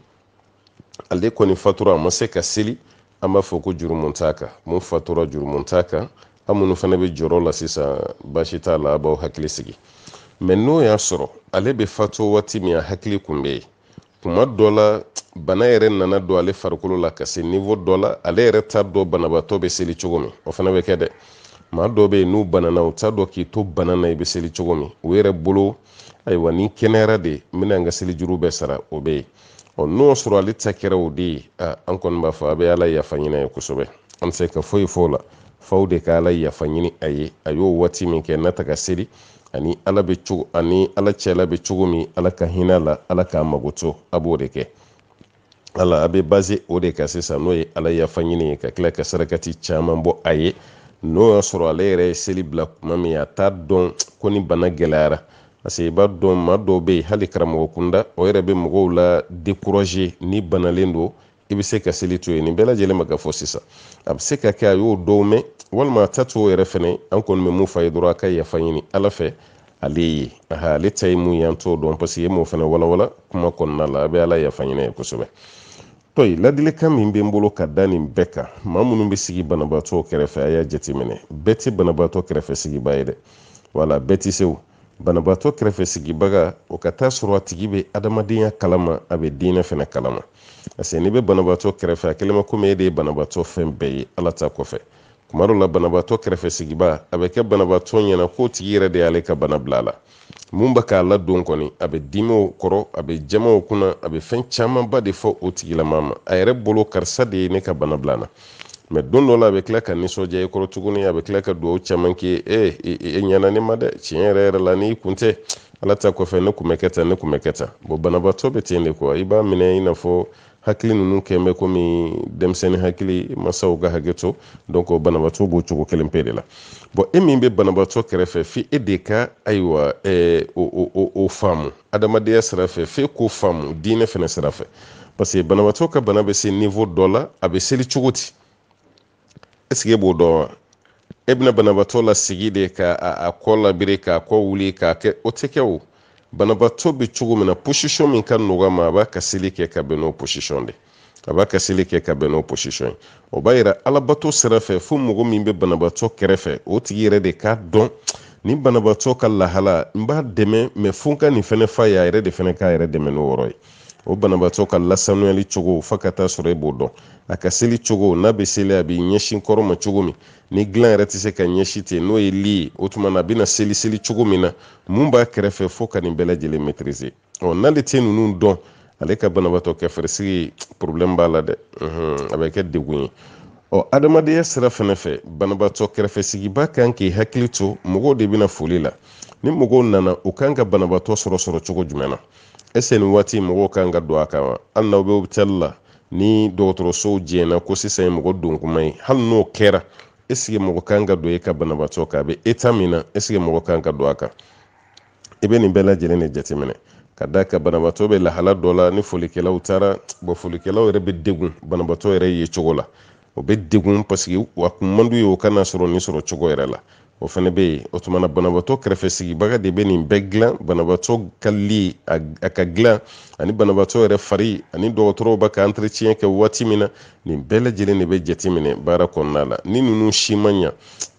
ale kɔni fatura a ma se ka seli an b'a fɔ ko jurumu t'a kan mun fatura jurumu t'a kan an minnu fana bɛ jɔrɔ la sisan baasi t'a la a b'aw hakili sigi mɛ n'o y'a sɔrɔ ale bɛ fatu waati min a hakili kun bɛ yen kuma dɔ la bana yɛrɛ nana don ale farikolo la ka se niveau dɔ la ale yɛrɛ t'a dɔn banabaatɔ bɛ seli cogo min o fana bɛ kɛ dɛ maa dɔw bɛ yen n'u banana u t'a dɔn k'i to bana na i bɛ seli cogo min u yɛrɛ bolo ayiwa ni kɛnɛyara de n bɛna n ka seli juru bɛɛ sara o bɛ yen ɔ n'o sɔrɔ ale ta kɛra o de ye an kɔni b'a fɔ a bɛ ala yafa ɲini ye kosɛbɛ an tɛ se ka foyi fɔ o la f'aw de ka ala yafa ɲini a ye a y'o waati min kɛ n'a ta ka seli a ni ala cɛla bɛ cogo min ala ka hinɛ a la ala k'a mago to a b'o de kɛ wala a bɛ baser o de kan sisan n'o ye ala yafa ɲini ye ka tila ka sarakati caman bɔ a ye n'o y'a sɔrɔ ale yɛrɛ ye seli bila kuma min a t'a dɔn ko ni bana gɛlɛyara parce que i b'a dɔn maa dɔw bɛ yen hali karamɔgɔ kunda o yɛrɛ bɛ mɔgɔw la décourager ni banalen don i bɛ se ka seli to yen nin bɛɛ lajɛlen bɛ ka fɔ sisan a bɛ se ka kɛ a y'o dɔw mɛn walima a ta t'o yɛrɛ fɛnɛ an kɔni bɛ mun f'a ye dɔrɔn a ka yafa ɲini ala fɛ ale ye aha ale ta ye mun ye an t'o dɔn parce que e m'o fɛnɛ walawala kuma kɔnɔna la a bɛ ala yafa ɲini ye kosɛbɛ tɔyi ladilikan min bɛ n bolo ka da nin bɛɛ kan maa minnu bɛ sigi banabaatɔ kɛrɛfɛ a y'a jateminɛ bɛɛ tɛ banabaatɔ kɛrɛfɛ sigiba ye dɛ wala bɛɛ tɛ se o banabaatɔ kɛrɛfɛ sigibaga o ka taa sɔrɔ a tigi bɛ adamadenya kalama a bɛ diinɛ fɛnɛ kalama parce que n'i bɛ banabaatɔ kɛrɛfɛ a kɛlen bɛ komi e de ye banabaatɔ fɛn bɛɛ ye ala ta kɔfɛ kuma dɔ la banabaatɔ kɛrɛfɛ sigiba a bɛ kɛ banabaatɔ ɲɛna k'o tigi yɛrɛ de y'ale ka bana bila a la mun bɛ k'a ladon kɔni a bɛ dimi o kɔrɔ a bɛ jaman o kunna a bɛ fɛn camanba de fɔ o tigilama ma a yɛrɛ bolo karisa de ye ne ka bana bila n na mɛ don dɔ la a bɛ tila ka nisɔndiya i kɔrɔ tuguni a bɛ tila ka dugawu caman k'i ye e e ɲɛna ne ma dɛ tiɲɛ yɛrɛ yɛrɛ la n'i kun tɛ ala ta kɔfɛ ne kun bɛ kɛ tan ne kun bɛ kɛ tan bɔn banabaatɔ bɛ ten de quoi i b'a minɛ i n'a fɔ hakili ninnu kɛlen bɛ komi denmisɛnnin hakili masaw ka hakɛ to donc banabaatɔ b'o cogo kelen pe de la bɔn e min bɛ banabaatɔ kɛrɛfɛ fo e de ka ayiwa ɛɛ o o o o faamu adamadenya sira fɛ f'e k'o faamu diinɛ fana sira fɛ parce que banabaatɔ ka bana bɛ se niveau dɔ la a bɛ seli cogo di est-ce que e b'o dɔn wa e bɛna banabaatɔ lasigi de ka a kɔ labiri k'a kɔ wuli k'a kɛ o tɛ kɛ o banabaatɔ bɛ cogo min na position min ka nɔgɔ a ma a b'a ka seli kɛ ka bɛn n'o position de a b'a ka seli kɛ ka bɛn n'o position ye o b'a yira alabato sira fɛ fo mɔgɔ min bɛ banabaatɔ kɛrɛfɛ o tigi yɛrɛ de k'a dɔn nin banabaatɔ ka lahala n b'a dɛmɛ mais fo n ka nin fɛnɛ f'a ye a yɛrɛ de fɛnɛ k'a yɛrɛ dɛmɛ n'o yɔrɔ ye o banabaatɔ ka lasanuyali cogo fo ka taa sɔrɔ e b'o dɔn a ka seli cogo n'a bɛ seli a bɛ ɲɛsin kɔrɔn ma cogo min ni dilan yɛrɛ tɛ se ka ɲɛsin ten n'o ye lit ye o tuma na a bɛna seli seli cogo min na mun b'a kɛrɛfɛ f'o ka nin bɛɛ lajɛlen maîtriser ɔ n'ale tɛ ninnu dɔn ale ka banabaatɔ kɛrɛfɛsigi problème b'a la dɛ a bɛ kɛ degun ye ɔ adamadenya sira fɛnɛ fɛ banabaatɔ kɛrɛfɛsigibaa kan k'i hakili to mɔgɔw de bɛ na foli la ni mɔgɔw nana u kan ka banabaatɔ sɔrɔ sɔrɔ cogo jumɛn na est-ce que nin waati mɔgɔw kan ka don a kan wa hali n'aw bɛ opitali la ni dɔgɔtɔrɔsow jɛnna ko sisan ye mɔgɔ don kuma ye hali n'o kɛra est-ce que mɔgɔ kan ka don e ka banabaatɔ kan a bɛ état min na est-ce que mɔgɔ kan ka don a kan i bɛ nin bɛɛ lajɛlen de jateminɛ ka d'a kan banabaatɔ bɛ lahala dɔ la ni folikɛlaw taara bɔn folikɛlaw yɛrɛ bɛ degun banabaatɔ yɛrɛ ye cogo la o bɛ degun parce que a kun man d'u ye o ka n'a sɔrɔ nin sɔrɔ cogo yɛrɛ la o fana bɛ yen o tuma na banabaatɔ kɛrɛfɛ sigibaga de bɛ nin bɛɛ dilan banabaatɔ ka lit a ka dilan ani banabaatɔ yɛrɛ fari ani dɔgɔtɔrɔw b'a ka entretien kɛ waati min na nin bɛɛ lajɛlen de bɛ jateminɛ baara kɔnɔna la ni ninnu si man ɲa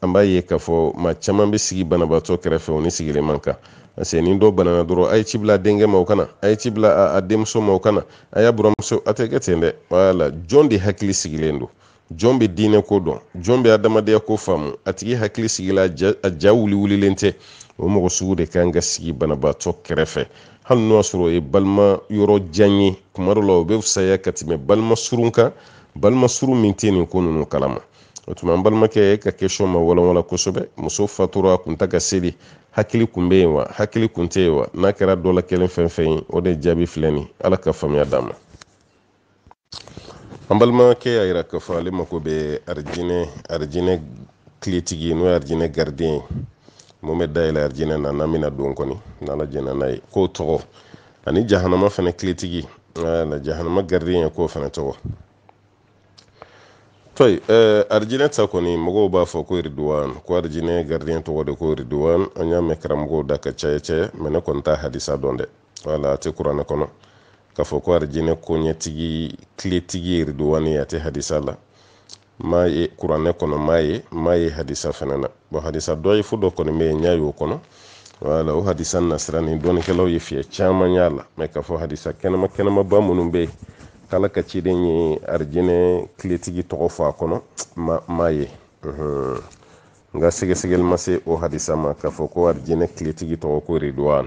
an b'a ye k'a fɔ maa caman bɛ sigi banabaatɔ kɛrɛfɛ o ni sigili man kan parce que ni dɔ banana dɔrɔn a ye ci bila a denkɛ ma o ka na a ye ci bila a denmuso ma o ka na a y'a buranmuso a tɛ kɛ ten dɛ wala jɔn de hakili sigilen don jɔn bɛ diinɛ ko dɔn jɔn bɛ adamadenya ko faamu a tigi hakili sigila a ja wuli wulilen tɛ o mɔgɔ sugu de kan ka sigi banabaatɔ kɛrɛfɛ hali n'o y'a sɔrɔ o ye balima yɔrɔ jan ye kuma dɔ la o bɛ fisaya ka tɛmɛ balima surun kan balima surun min tɛ nin ko ninnu kalama o tuma an balimakɛ e ka question ma walawala kosɛbɛ muso fatura a kun tɛ ka seli hakili kun bɛ yen wa hakili kun tɛ yen wa n'a kɛra dɔ la kelen fɛn fɛn ye o de jaabi filɛ nin ala ka faamuya d'an ma an balimakɛ y'a yira k'a fɔ ale mako bɛ arijinɛ arijinɛ kiletigi n'o ye arijinɛ gardien ye mun bɛ dayɛlɛ arijinɛ na n'an bɛna don kɔni n'ala jɛnna n'a ye k'o tɔgɔ ani jahanama fana kiletigi na jahanama gardien ye k'o fana tɔgɔ tɔyi eh, arijinɛ ta kɔni mɔgɔw b'a fɔ ko iriduwan ko arijinɛ garidiyɛn tɔgɔ de ko iriduwan an y'a mɛn karamɔgɔw da ka caya caya mɛ ne kɔni t'a hadisa dɔn dɛ wala a tɛ kuranɛ kɔnɔ k'a fɔ ko arijinɛ koɲɛtigi kiletigi iriduwani a tɛ hadisa la m'a ye kuranɛ kɔnɔ m'a ye m'a ye hadisa fana na bon hadisa dɔyifu dɔ kɔni bɛ yen n y'a y'o kɔnɔ wala o hadisa nasira nin dɔnnikɛlaw ye fiyɛ caman y'a la mɛ k'a fɔ hadisa kɛnɛma kɛnɛmaba minnu bɛ yen k'ala ka ciden ye arijinɛ kiletigi tɔgɔ fɔ a kɔnɔ n m'a ye n ka sɛgɛsɛgɛli ma se o hadisa ma k'a fɔ ko arijinɛ kiletigi tɔgɔ ko ridwan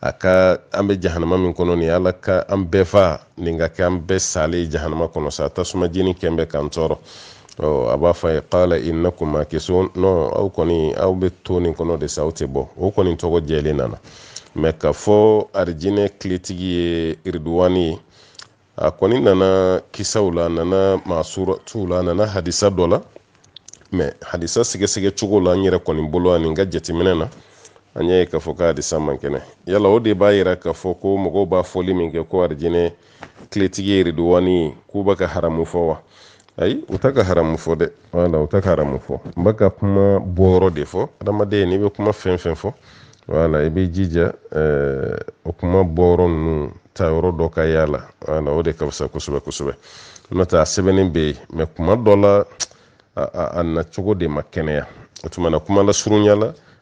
a ka an bɛ jahanama min kɔnɔ nin ala ka an bɛɛ fa nin ka kɛ an bɛɛ salen jahanama kɔnɔ sa tasuma jeni kɛn bɛ k'an tɔɔrɔ a b'a fɔ a ye kala innakum makisuna aw kɔni aw bɛ to nin kɔnɔ de sa aw tɛ bɔ o kɔni tɔgɔ jɛlen nana mɛ k'a fɔ arijinɛ kiletigi ye iriduwani ye a kɔni nana kisaw la a nana masuratuw la a nana hadisa dɔ la mɛ hadisa sɛgɛsɛgɛ cogo la n yɛrɛ kɔni bolo ani n ka jateminɛ na an y'a ye k'a fɔ ko hadisa man kɛnɛ yala o de b'a yira k'a fɔ ko mɔgɔw b'a fɔli min kɛ ko arijinɛ kiletigi ye riduwani ye k'u bɛ ka haramu fɔ wa ayi u ta ka haramu fɔ dɛ wala u ta ka haramu fɔ n bɛ ka kuma bɔyɔrɔ de fɔ adamaden n'i bɛ kuma fɛn fɛn fɔ wala i bɛ jija eh, o kuma bɔyɔrɔ ninnu tayɔrɔ dɔ ka y'a la wala o de ka fisa kosɛbɛ kosɛbɛ n'o tɛ a sɛbɛnnen bɛ yen mɛ kuma dɔ la a nacogo de ma kɛnɛya o tuma na kuma lasurunya la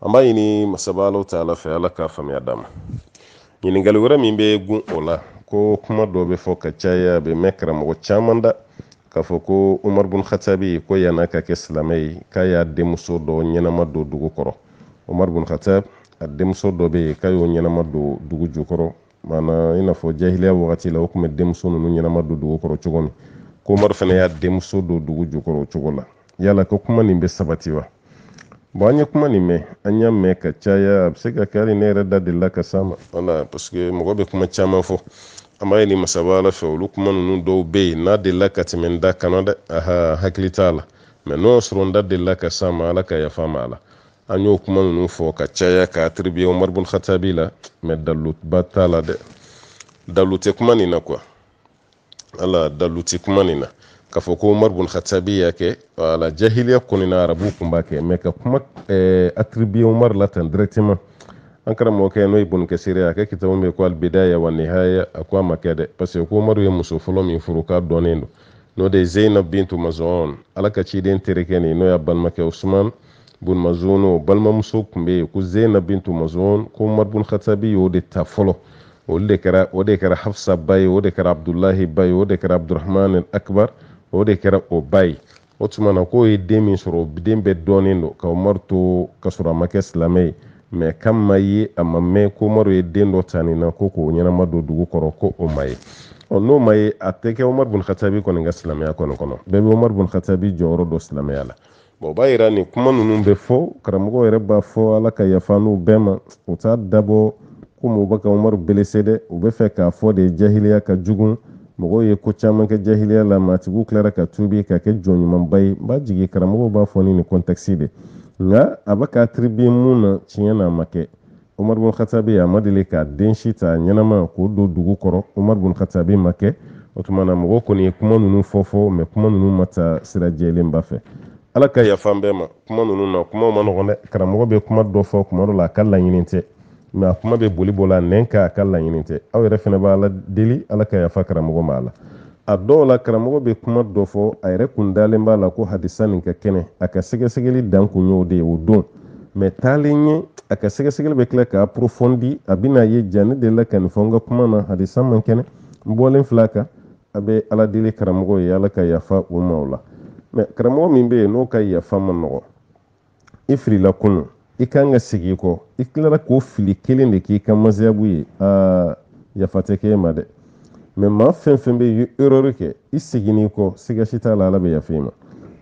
an b'a ɲini masaba ala taala fɛ ala ka faamuya d'an ma ɲininkali wɛrɛ min bɛ gun o la ko kuma dɔ bɛ fɔ ka caya a bɛ mɛn karamɔgɔ caman da k'a fɔ ko umaru bun khatabi ko yan'a ka kɛ silamɛ ye k'a y'a denmuso dɔ ɲɛnama don dugu kɔrɔ umaru bun khatab a denmuso dɔ bɛ yen k'a y'o ɲɛnama don dugu jukɔrɔ maana i n'a fɔ jahiliya wagati la u kun bɛ denmuso ninnu ɲɛnama don dugu kɔrɔ cogo min k'omari fana y'a denmuso don dugu jukɔrɔ o cogo la yala ko kuma nin bɛ sabati wa bon an ye kuma nin mɛn an y'a mɛn ka caya a bɛ se ka kɛ hali ne yɛrɛ da delila ka s'a ma wala parce que mɔgɔ bɛ kuma caman fɔ an b'a ɲini masaba ala fɛ olu kuma ninnu dɔw bɛ yen n'a delila ka tɛmɛ n da kana dɛ aha hakili t'a la mɛ n'o y'a sɔrɔ n da delila ka s'a ma ala ka yafa n ma a la an y'o kuma ninnu fɔ ka caya ka atribiye omar bun khatabi la mɛ daluba t'a la dɛ dalu tɛ kuma nin na quoi wala dalu tɛ kuma nin na k'a fɔ ko omar bun khatabi y'a kɛ wala jahiliya kɔni na arabuw kun b'a kɛ mɛ ka kuma eh, atribiye omar la tan directement an karamɔgɔkɛ n'o ye bun kasiri ye a ka kitabu min ko albidaya wa nihaya a ko a ma kɛ dɛ parce que ko umaru ye muso fɔlɔ min furu k'a dɔnnen don n'o de ye zeinab bintu mazun ala ka ciden terikɛ nin n'o y'a balimakɛ usman bun mazon balimamuso tun bɛ yen ko zeyina bintu mazon ko umaru bun katabi y'o de ta fɔlɔ olu de kɛra o de kɛra hafsa ba ye o de kɛra abdulahi ba ye o de kɛra abdurahman akibar o de kɛra o ba ye o tuma na k'o ye den min sɔrɔ den bɛɛ dɔnnen don ka umaru to ka sɔrɔ a ma kɛ silamɛ ye mɛ kan ma ye a ma mɛn ko umaru ye den dɔ ta nin na k'o ɲɛnama don dugu kɔrɔ ko o ma ye ɔ n'o ma ye a tɛ kɛ umaru bun katabi kɔni ka silamɛya kɔni kɔnɔ bɛɛ bɛ umaru bun katabi jɔyɔrɔ dɔn silamɛya la bon o b'a yira ni kuma ninnu bɛ fɔ karamɔgɔ yɛrɛ b'a fɔ ala ka yafa n'u bɛɛ ma u t'a dabɔ komi u bɛ ka umaru belese dɛ u bɛ fɛ k'a fɔ de jahiliya ka jugun mɔgɔw ye ko caman kɛ jahiliya la maatigiw tilara ka tuubi ka kɛ jɔn ɲumanba ye n b'a jigi karamɔgɔw b'a fɔ ni nin kɔntɛkisi de nka a bɛ ka atiribiye mun na tiɲɛ na a ma kɛ umaru bun khatabi a ma deli k'a den si ta ɲɛnama k'o don dugu kɔrɔ umaru bun khatabi m'a kɛ o tuma na mɔgɔ kɔni ye kuma ninnu fɔ fɔ mɛ kuma ninnu ma ta sira jɛlenba fɛ ala ka yafa an bɛɛ ma kuma ninnu na kuma man nɔgɔn dɛ karamɔgɔ bɛ kuma dɔ fɔ kuma dɔ la a ka laɲini tɛ mɛ a kuma bɛ boli bɔ la nɛn kan a ka laɲini tɛ aw yɛrɛ fana bɛ ala deli ala ka yafa karamɔgɔ ma a la a dɔw la karamɔgɔ bɛ kuma dɔ fɔ a yɛrɛ kun dalen b'a la ko hadisa nin ka kɛnɛ a ka sɛgɛsɛgɛli dan kun y'o de ye o don mɛ taalen ɲɛ a ka sɛgɛsɛgɛli bɛ tila k'a porofɔndi a bɛn'a ye ja ne delila ka nin fɔ n ka kuma na hadisa man kɛnɛ n bɔlen fil'a kan a bɛ ala deli karamɔgɔ ye ala ka yafa o ma o la mɛ karamɔgɔ min bɛ yen n'o ka yafa man nɔgɔ i filila kunun i kan ka segi i kɔ i tilara k'o fili kelen de k'i ka mazihabu ye aa yafa tɛ k'e ma dɛ mɛ maa fɛn fɛn bɛ ye erreur kɛ i seginn'i kɔ siga si t'a la ala bɛ yafa i ma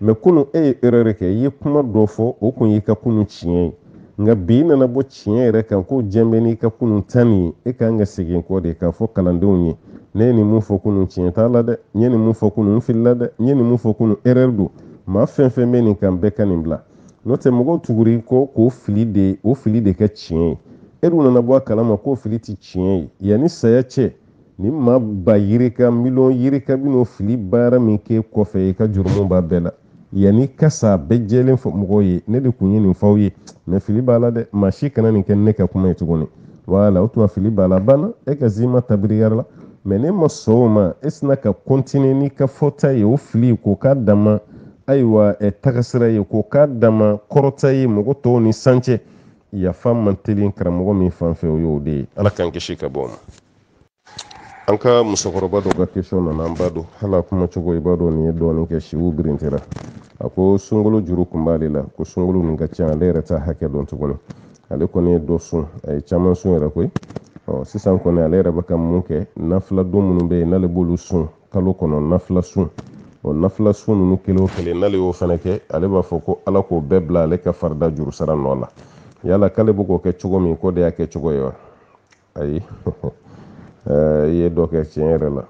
mɛ kunun e ye erreur kɛ i ye kuma dɔ fɔ o kun y'i ka kunun tiɲɛ ye nka bi i nana bɔ tiɲɛ yɛrɛ kan ko diɲɛ bɛ n'i ka kunun ta nin ye e kan ka segin kɔ de k'a fɔ kalandenw ye ne ye nin mun fɔ kunun tiɲɛ t'a la dɛ n ye nin mun fɔ kunun n filila dɛ n ye nin mun fɔ kunun erreur don maa fɛn fɛn bɛ nin kan bɛɛ ka nin bila n'o tɛ mɔgɔw tugur'i kɔ k'o fili de o fili de kɛ tiɲɛ ye e dun nana bɔ a kalama k'o fili tɛ tiɲɛ ye yanni saya cɛ ni maa ba yirika miliyɔn yirika bɛn'o fili baara min k'e kɔfɛ i ka jurumu b'a bɛɛ la yann'i ka sa bɛɛ jɛlen fɔ mɔgɔw ye ne de kun ye nin f'aw ye mɛ fili b'a la dɛ maa si kana nin kɛ ne ka kuma ye tuguni wala o tuma fili b'a la banna e ka zima tabiriyara la mɛ n'e ma sɔn o ma e sinna ka kɔntine n'i ka fɔta ye o fili k'o k'a dama ayiwa ɛ tagasira ye k'o k'a dama kɔrɔta ye mɔgɔ tɔw ni san cɛ yafa man teli karamɔgɔ min fan fɛ o y'o de ye ala k'an kisi ka bɔ o ma an ka musokɔrɔba dɔ ka kesɔn nana an b'a dɔn hali a kuma cogo i b'a dɔn nin ye dɔɔnin kɛ siw birintera a ko sunkolo juru kun b'ale la ko sunkolo nin ka ca ale yɛrɛ t'a hakɛ dɔn tuguni ale kɔni ye dɔ sun a ye caman sun yɛrɛ koyi ɔ sisan kɔni ale yɛrɛ bɛ ka mun kɛ nafila don minnu bɛ yen n'ale b'olu sun kalo kɔnɔ nafila sun o nafila sun ninnu kelen o kelen n'ale y'o fana kɛ ale b'a fɔ ko ala k'o bɛɛ bila ale ka farida jurusara nɔ la yala k'ale bɛ k'o kɛ cogo min k'o de y'a kɛ cogo ye wa ayi i ye dɔ kɛ tiɲɛ yɛrɛ la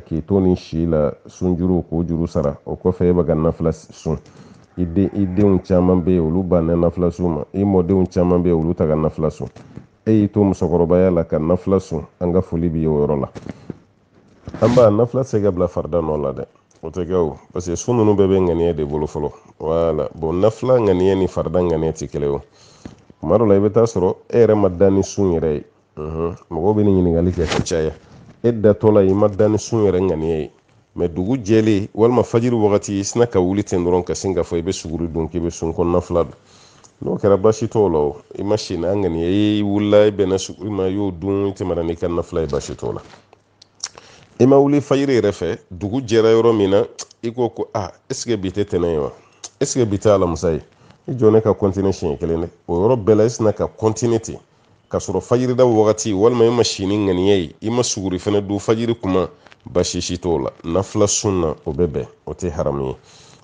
k'i to nin si la sunjuru k'o juru sara o kɔfɛ e bɛ ka nafila sun i den i denw caman bɛ yen olu banna nafila sun ma i mɔdenw caman bɛ yen olu tɛ ka nafila sun e y'i to musokɔrɔbaya la ka nafila sun an ka foli b'i ye o yɔrɔ la an ba nafila tɛ se ka bila farida nɔ la dɛ o tɛ kɛ o parce que sun ninnu bɛɛ bɛ ŋaniya de bolo fɔlɔ wala bon nafila ŋaniya ni farida ŋaniya tɛ kelen o kuma dɔ la i bɛ taa sɔrɔ e yɛrɛ ma da ni sun yɛrɛ ye mɔgɔw bɛ nin ɲininkali kɛ ka caya e datɔ la i ma da ni sun yɛrɛ ŋaniya ye mais dugu jɛlen walima fajiri wagati i sinna ka wuli ten dɔrɔn ka sin k'a fɔ i bɛ suguri dun k'i bɛ sun ko nafila don n'o kɛra baasi t'o la o i ma si n'a ŋaniya i wulila i bɛnna suguri ma i y'o dun i tɛmɛna n'i ka nafila ye baasi t'o la i ma wuli fajiri yɛrɛ fɛ dugu jɛra yɔrɔ min na i ko ko a est-ce que bi tɛ tɛnɛ ye wa est-ce que bi tɛ alamisa ye i jɔ ne ka continuer siɲɛ kelen dɛ o yɔrɔ bɛɛ la i sinna ka continuer ten ka sɔrɔ fajirida wagati walima i ma si ni ŋaniya ye i ma suguri fana dun fajiri kuma baasi si t'o la nafila sun na o bɛ bɛn o tɛ haramu ye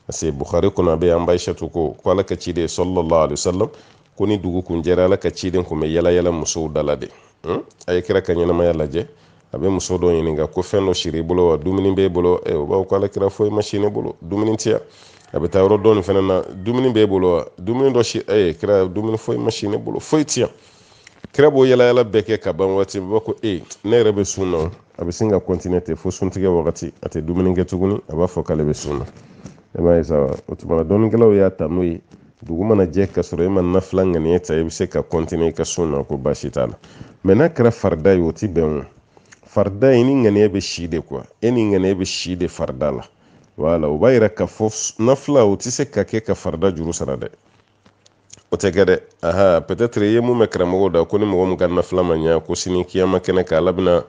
parce que bukhari kɔnɔ a bɛ an ba ayisatu ko ko ala ka ciden sallallahu alaihi wasallam ko ni dugu kun jɛra ala ka ciden kun bɛ yala yala musow dala de hmm? a ye kira ka ɲɛnamaya lajɛ a bɛ muso dɔ ɲininka ko fɛn dɔ sira i bolo wa dumuni b'e bolo eh, o b'a fɔ ko ala kira foyi ma si ne bolo dumuni tɛ yan a bɛ taa yɔrɔ dɔ nin fana na dumuni b'e bolo wa dumuni dɔ si e eh, kira dumuni foyi ma si ne bolo foyi tɛ yan kira b'o yalayala bɛɛ kɛ ka ban waati b'a ko e ne yɛrɛ bɛ sun na a bɛ sin ka continuer ten fo suntigɛ wagati a tɛ dumuni kɛ tuguni a b'a fɔ k'ale bɛ sun na e m'a ye sa o tuma na dɔnnikɛlaw y'a ta n'o ye dugu mana jɛ ka sɔrɔ e ma nafila ŋaniya ta i bɛ se ka continuer i ka sun na ko baasi t'a la mais n'a kɛra farida ye o tɛ bɛn o farida e ni ŋaniya bɛ si de quoi e ni ŋaniya bɛ si de farida la wala o b'a yira k'a fɔ nafila o tɛ se ka kɛ ka farida juru sara dɛ o tɛ kɛ dɛ aha peut-être i ye min mɛn karamɔgɔw da ko ni mɔgɔ min ka nafila ma ɲɛ ko sini kiyama kɛnɛ kan ala bɛna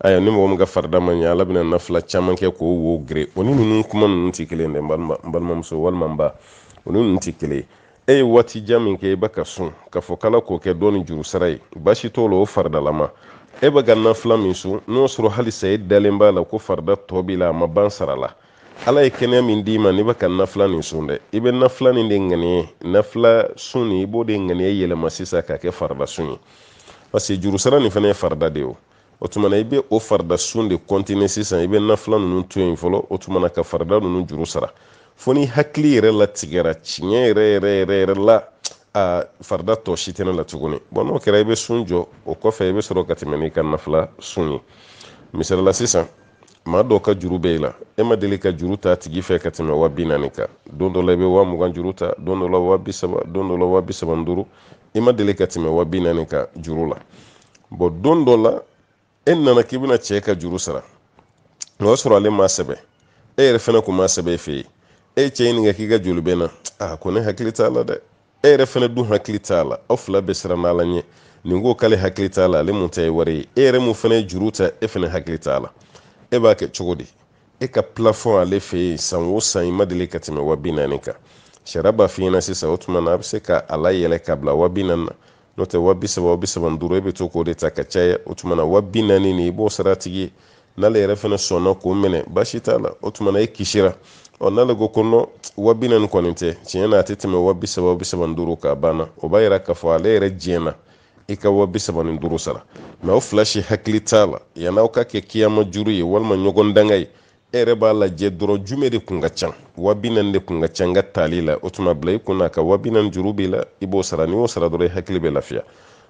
ayiwa ni mɔgɔ min ka farida ma ɲɛ ala bɛna nafila caman kɛ k'o wo geren o ni ninnu kuma ninnu tɛ kelen dɛ n balimamuso walima n ba o ni ninnu tɛ kelen e ye waati jan min kɛ i bɛ ka sun k'a fɔ k'ala k'o kɛ dɔɔni juru sara ye baasi t'o la o faridalama e bɛ ka nafila min sun n'o sɔrɔ halisa e dalen b'a la ko farida tɔ b'i la a ma ban sara la ala ye kɛnɛya min d'i ma n'i bɛ ka nafila nin sun dɛ i bɛ nafila nin de ŋaniya nafila sun nin i b'o de ŋaniya yɛlɛma sisan k'a kɛ farida sun ye parce que juru sara nin fana ye farida de ye o o tuma na i bɛ o farida sun de kɔntine sisan i bɛ nafila ninnu to yen fɔlɔ o tuma na ka farida ninnu juru sara fo n'i hakili yɛrɛ latigɛra tiɲɛ yɛrɛ yɛrɛ yɛrɛ yɛrɛ la a farida tɔ si tɛ ne la tuguni bɔn n'o kɛra i bɛ sun jɔ o kɔfɛ i bɛ sɔrɔ ka tɛmɛ n'i ka nafila sun ye misali la sisan maa dɔ ka juru bɛ i la e ma deli ka juru ta a tigi fɛ ka tɛmɛ wa bi naani kan don dɔ la i bɛ wa mugan juru ta don dɔ la wa bi saba don dɔ la wa bi saba ni duuru i ma deli ka tɛmɛ wa bi naani kan juru la bɔn don dɔ la e nana k'i bɛna cɛ ka juru sara o y'a sɔrɔ ale ma sɛbɛn e yɛrɛ fana kun ma sɛbɛn e fɛ yen e cɛ ɲininka k'i ka joli bɛ na a ko ne hakili t'a la dɛ e yɛrɛ fana dun hakili t'a la aw fila bɛ siran ala ɲɛ nin ko k'ale hakili t'a la ale mun ta ye wari ye e yɛrɛ mun fana ye juru ta e fana hakili t'a la e b'a kɛ cogo di e ka plafɔn ale fɛ yen san o san i ma deli ka tɛmɛ wa bi naani kan sariya b'a f'i ɲɛna sisan o tuma na a bɛ se ka a layɛlɛ ka bila wa bi naani na n'o tɛ wa bi saba wa bi saba ni duuru e bɛ to k'o de ta ka caya o tuma na wa bi naani nin i b'o sara a tigi ye n'ale yɛrɛ fana sɔnna k'o minɛ baasi t'a la o tuma na e kisira ɔ n'ale ko ko nɔ wa bi naani kɔni tɛ tiɲɛ na a tɛ tɛmɛ wa bi saba wa bi saba ni duuru kan a banna o b'a yira k'a fɔ ale yɛrɛ diɲɛna i ka wa bi saba ni duuru sara mɛ aw fila si hakili t'a la yann'aw k'a kɛ kiyama juru ye walima ɲɔgɔn danga ye e yɛrɛ b'a lajɛ dɔrɔn jumɛn de kun ka ca wa bi naani de kun ka ca n ka taali la o tuma bila i kun na ka wa bi naani juru b'i la i b'o sara n'i y'o sara dɔrɔn i hakili bɛ lafiya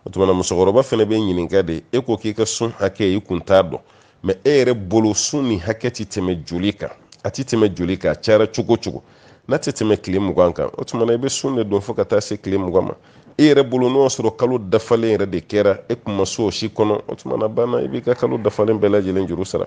o tuma na musokɔrɔba fana bɛ ɲininka de e ko k'i ka sun hakɛ i kun t'a dɔn mɛ e yɛrɛ bolo sun nin hakɛ tɛ tɛmɛ joli kan a tɛ tɛmɛ joli kan a cayara cogo cogo n'a tɛ tɛmɛ tile mugan kan o tuma na i bɛ sun de don fo ka taa se tile mugan ma e yɛrɛ bolo n'o y'a sɔrɔ kalo dafalen yɛrɛ de kɛra e kun ma sun o si kɔnɔ o tuma na banna i b'i ka kalo dafalen bɛɛ lajɛlen juru sara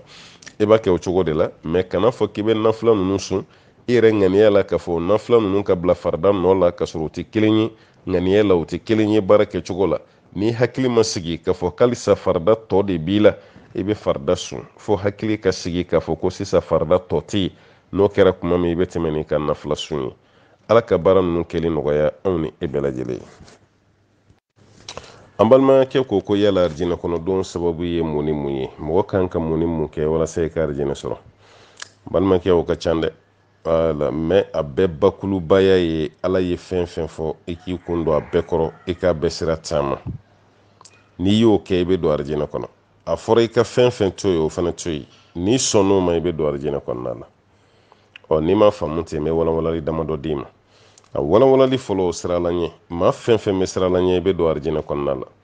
e b'a kɛ o cogo de la mɛ kan'a fɔ k'i bɛ nafila ninnu sun i yɛrɛ ŋaniya la k'a fɔ nafila ninnu ka bila farida nɔ la k'a sɔrɔ u tɛ kelen ye ŋaniya la u tɛ kelen ye baara kɛcogo la n'i hakili ma sigi k'a fɔ k'alisa farida tɔ de b'i la i bɛ farida sun fo hakili ka sigi k'a fɔ ko sisan farida tɔ tɛ yen n'o kɛra kuma min i bɛ tɛmɛ n'i ka nafila sun ye ala ka baara ninnu kɛli nɔgɔya anw ni e bɛɛ lajɛlen ye an balimakɛ ko ko yala arijinɛ kɔnɔdon sababu ye mun ni mun ye mɔgɔ kan ka mun ni mun kɛ walasa i ka arijinɛ sɔrɔ balimakɛ o ka ca dɛ mɛ a bɛɛ bakulubaya ye ala ye fɛn fɛn fɔ i k'i kun don a bɛɛ kɔrɔ i k'a bɛɛ sira taama n'i y'o kɛ i bɛ don arijinɛ kɔnɔ a fɔra i ka fɛn fɛn to yen o fana to yen n'i sɔnn'o ma i bɛ don arijinɛ kɔnɔna la ɔ n'i ma faamu ten n bɛ walawalali damadɔ d'i ma a walawalali fɔlɔ o siran ala ɲɛ maa fɛn fɛn bɛ siran ala ɲɛ i bɛ don arijinɛ kɔnɔna la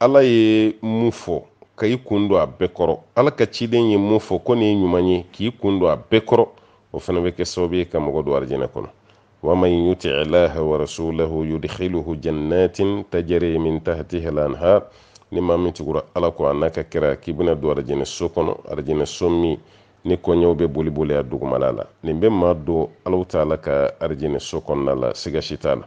ala ye mun fɔ ka i kun don a bɛɛ kɔrɔ ala ka ciden ye mun fɔ ko nin ye ɲuman ye k'i kun don a bɛɛ kɔrɔ o fana bɛ kɛ sababu ye ka mɔgɔ don arijinɛ kɔnɔ wa man yuti allaha wa rasulahu yudkhiluhu jannatin tajri min tahtiha lanhar ni maa min tugura ala kɔ a n'a ka kira k'i bɛna don arijinɛ so kɔnɔ arijinɛ so min ni kɔjiw bɛ boli boli a dugumala la nin bɛ maa don alahu taala ka arijinɛ so kɔnɔna la siga si t'a la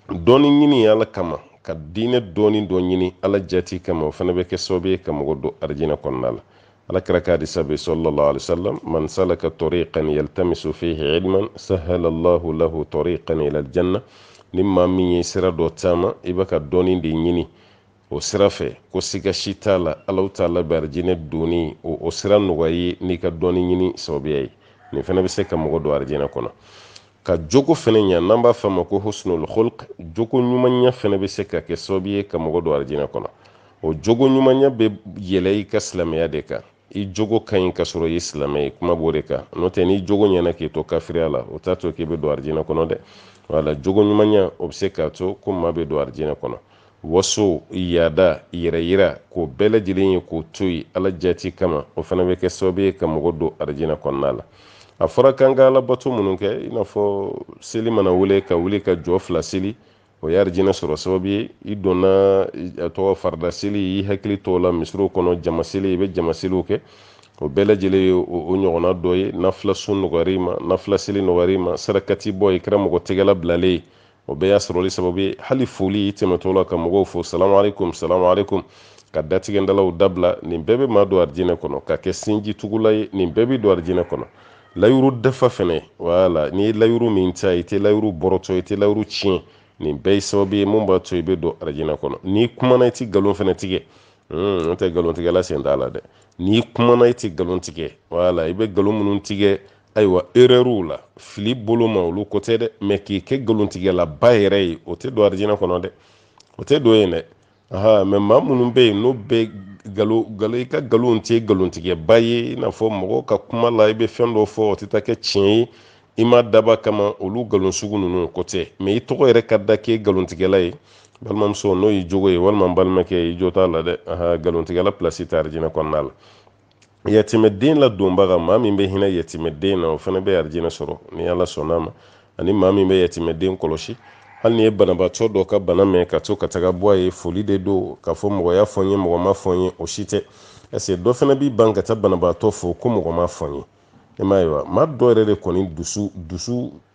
dɔnni ɲini ala kama ka diinɛ dɔnni dɔ ɲini ala jati kama o fana bɛ kɛ sababu ye ka mɔgɔ don arijinɛ kɔnɔna la ala kira ka hadisa bɛ sallallahu alaihi wasallam man salaka tariqan yaltamisu fihi ilman sahala allahu lahu tariqan ila aljanna ni maa min ye sira dɔ taama i bɛ ka dɔnni de ɲini o sira fɛ ko siga si t'a la alahu taala bɛ arijinɛ donni o o sira nɔgɔya i ye n'i ka dɔnni ɲini sababuya ye nin fana bɛ se ka mɔgɔ don arijinɛ kɔnɔ ka jogo fana ɲa n'an b'a fɔ a ma ko husnul khulq jogo ɲumanya fana bɛ se ka kɛ sababu ye ka mɔgɔ don arijinɛ kɔnɔ o jogo ɲumanya bɛ yɛlɛ i ka silamɛya de kan i jogo ka ɲi ka sɔrɔ i ye silamɛ ye kuma b'o de kan n'o tɛ n'i jogo ɲɛna k'i to kafiriya la o t'a to k'i bɛ don arijinɛ kɔnɔ dɛ wala jogo ɲumanya o bɛ se k'a to ko maa bɛ don arijinɛ kɔnɔ waso yaada yɛrɛyira k'o bɛɛ lajɛlen ye k'o to yen ala jati kama o fana bɛ kɛ sababu ye ka mɔgɔ don arijinɛ kɔnɔna la a fɔra k'an ka alabato minnu kɛ i n'a fɔ seli mana wele ka wuli ka jɔ fila seli o ye arijinɛ sɔrɔ sababu ye i donna a tɔgɔ farida seli i hakili t'o la misiriw kɔnɔ jama seli i bɛ jama seliw kɛ o bɛɛ lajɛlen ye o ɲɔgɔnna dɔ ye nafila sun nɔgɔyara i ma nafila seli nɔgɔyara i ma sarakati bɔ i kɛra mɔgɔ tɛgɛla bilalen ye o bɛɛ y'a sɔrɔli sababu ye hali foli i tɛmɛtɔ la ka mɔgɔw fo salamu aleykum salamu aleykum ka datigɛndalaw dabila nin bɛɛ bɛ maa don arijinɛ kɔnɔ ka kɛ sinji tugula ye nin bɛɛ b'i don arijinɛ kɔnɔ layuru dafa fɛnɛ wala n'i ye layuru min ta i tɛ layuru bɔrɔtɔ i tɛ layuru tiɲɛ nin bɛɛ ye sababu ye mun b'a to i bɛ don arijinɛ kɔnɔ n'i kumana i tɛ nkalon fɛnɛ tigɛ hmm, n tɛ nkalontigɛla sen t'a la dɛ n'i kumana i tɛ nkalon tigɛ wala i bɛ nkalon minnu tigɛ ayiwa erreur la fili bolo ma olu ko tɛ dɛ mɛ k'i kɛ nkalontigɛlaba yɛrɛ ye o tɛ don arijinɛ kɔnɔ dɛ o tɛ don yen dɛ aa mɛ maa minnu bɛ yen n'o bɛ nkalon i ka nkalon tɛ nkalontigɛba ye i n'a fɔ mɔgɔ ka kuma la i bɛ fɛn dɔ fɔ o tɛ taa kɛ tiɲɛ ye i m'a dabɔ a kama olu nkalon sugu ninnu ko tɛ mɛ i tɔgɔ yɛrɛ ka da k'e nkalontigɛla ye balimamuso n'o y'i jogo ye walima balimakɛ i jo t'a la dɛ nkalontigɛla pilasi tɛ arijinɛ kɔnɔna la yatimɛden ladonbaga maa min bɛ hinɛ yatimɛden na o fana bɛ arijinɛ sɔrɔ ni ala sɔnna a ma ani maa min bɛ yatimɛden kɔlɔsi hali n'i ye banabaatɔ dɔ ka bana mɛn ka to ka taga bɔ a ye foli de don k'a fɔ mɔgɔ y'a fɔ n ye mɔgɔ m'a fɔ n ye o si tɛ ɛseke dɔ fana b'i ban ka taa banabaatɔ fo ko mɔgɔ m'a fɔ n ye e m'a ye wa maa dɔ yɛrɛ de kɔni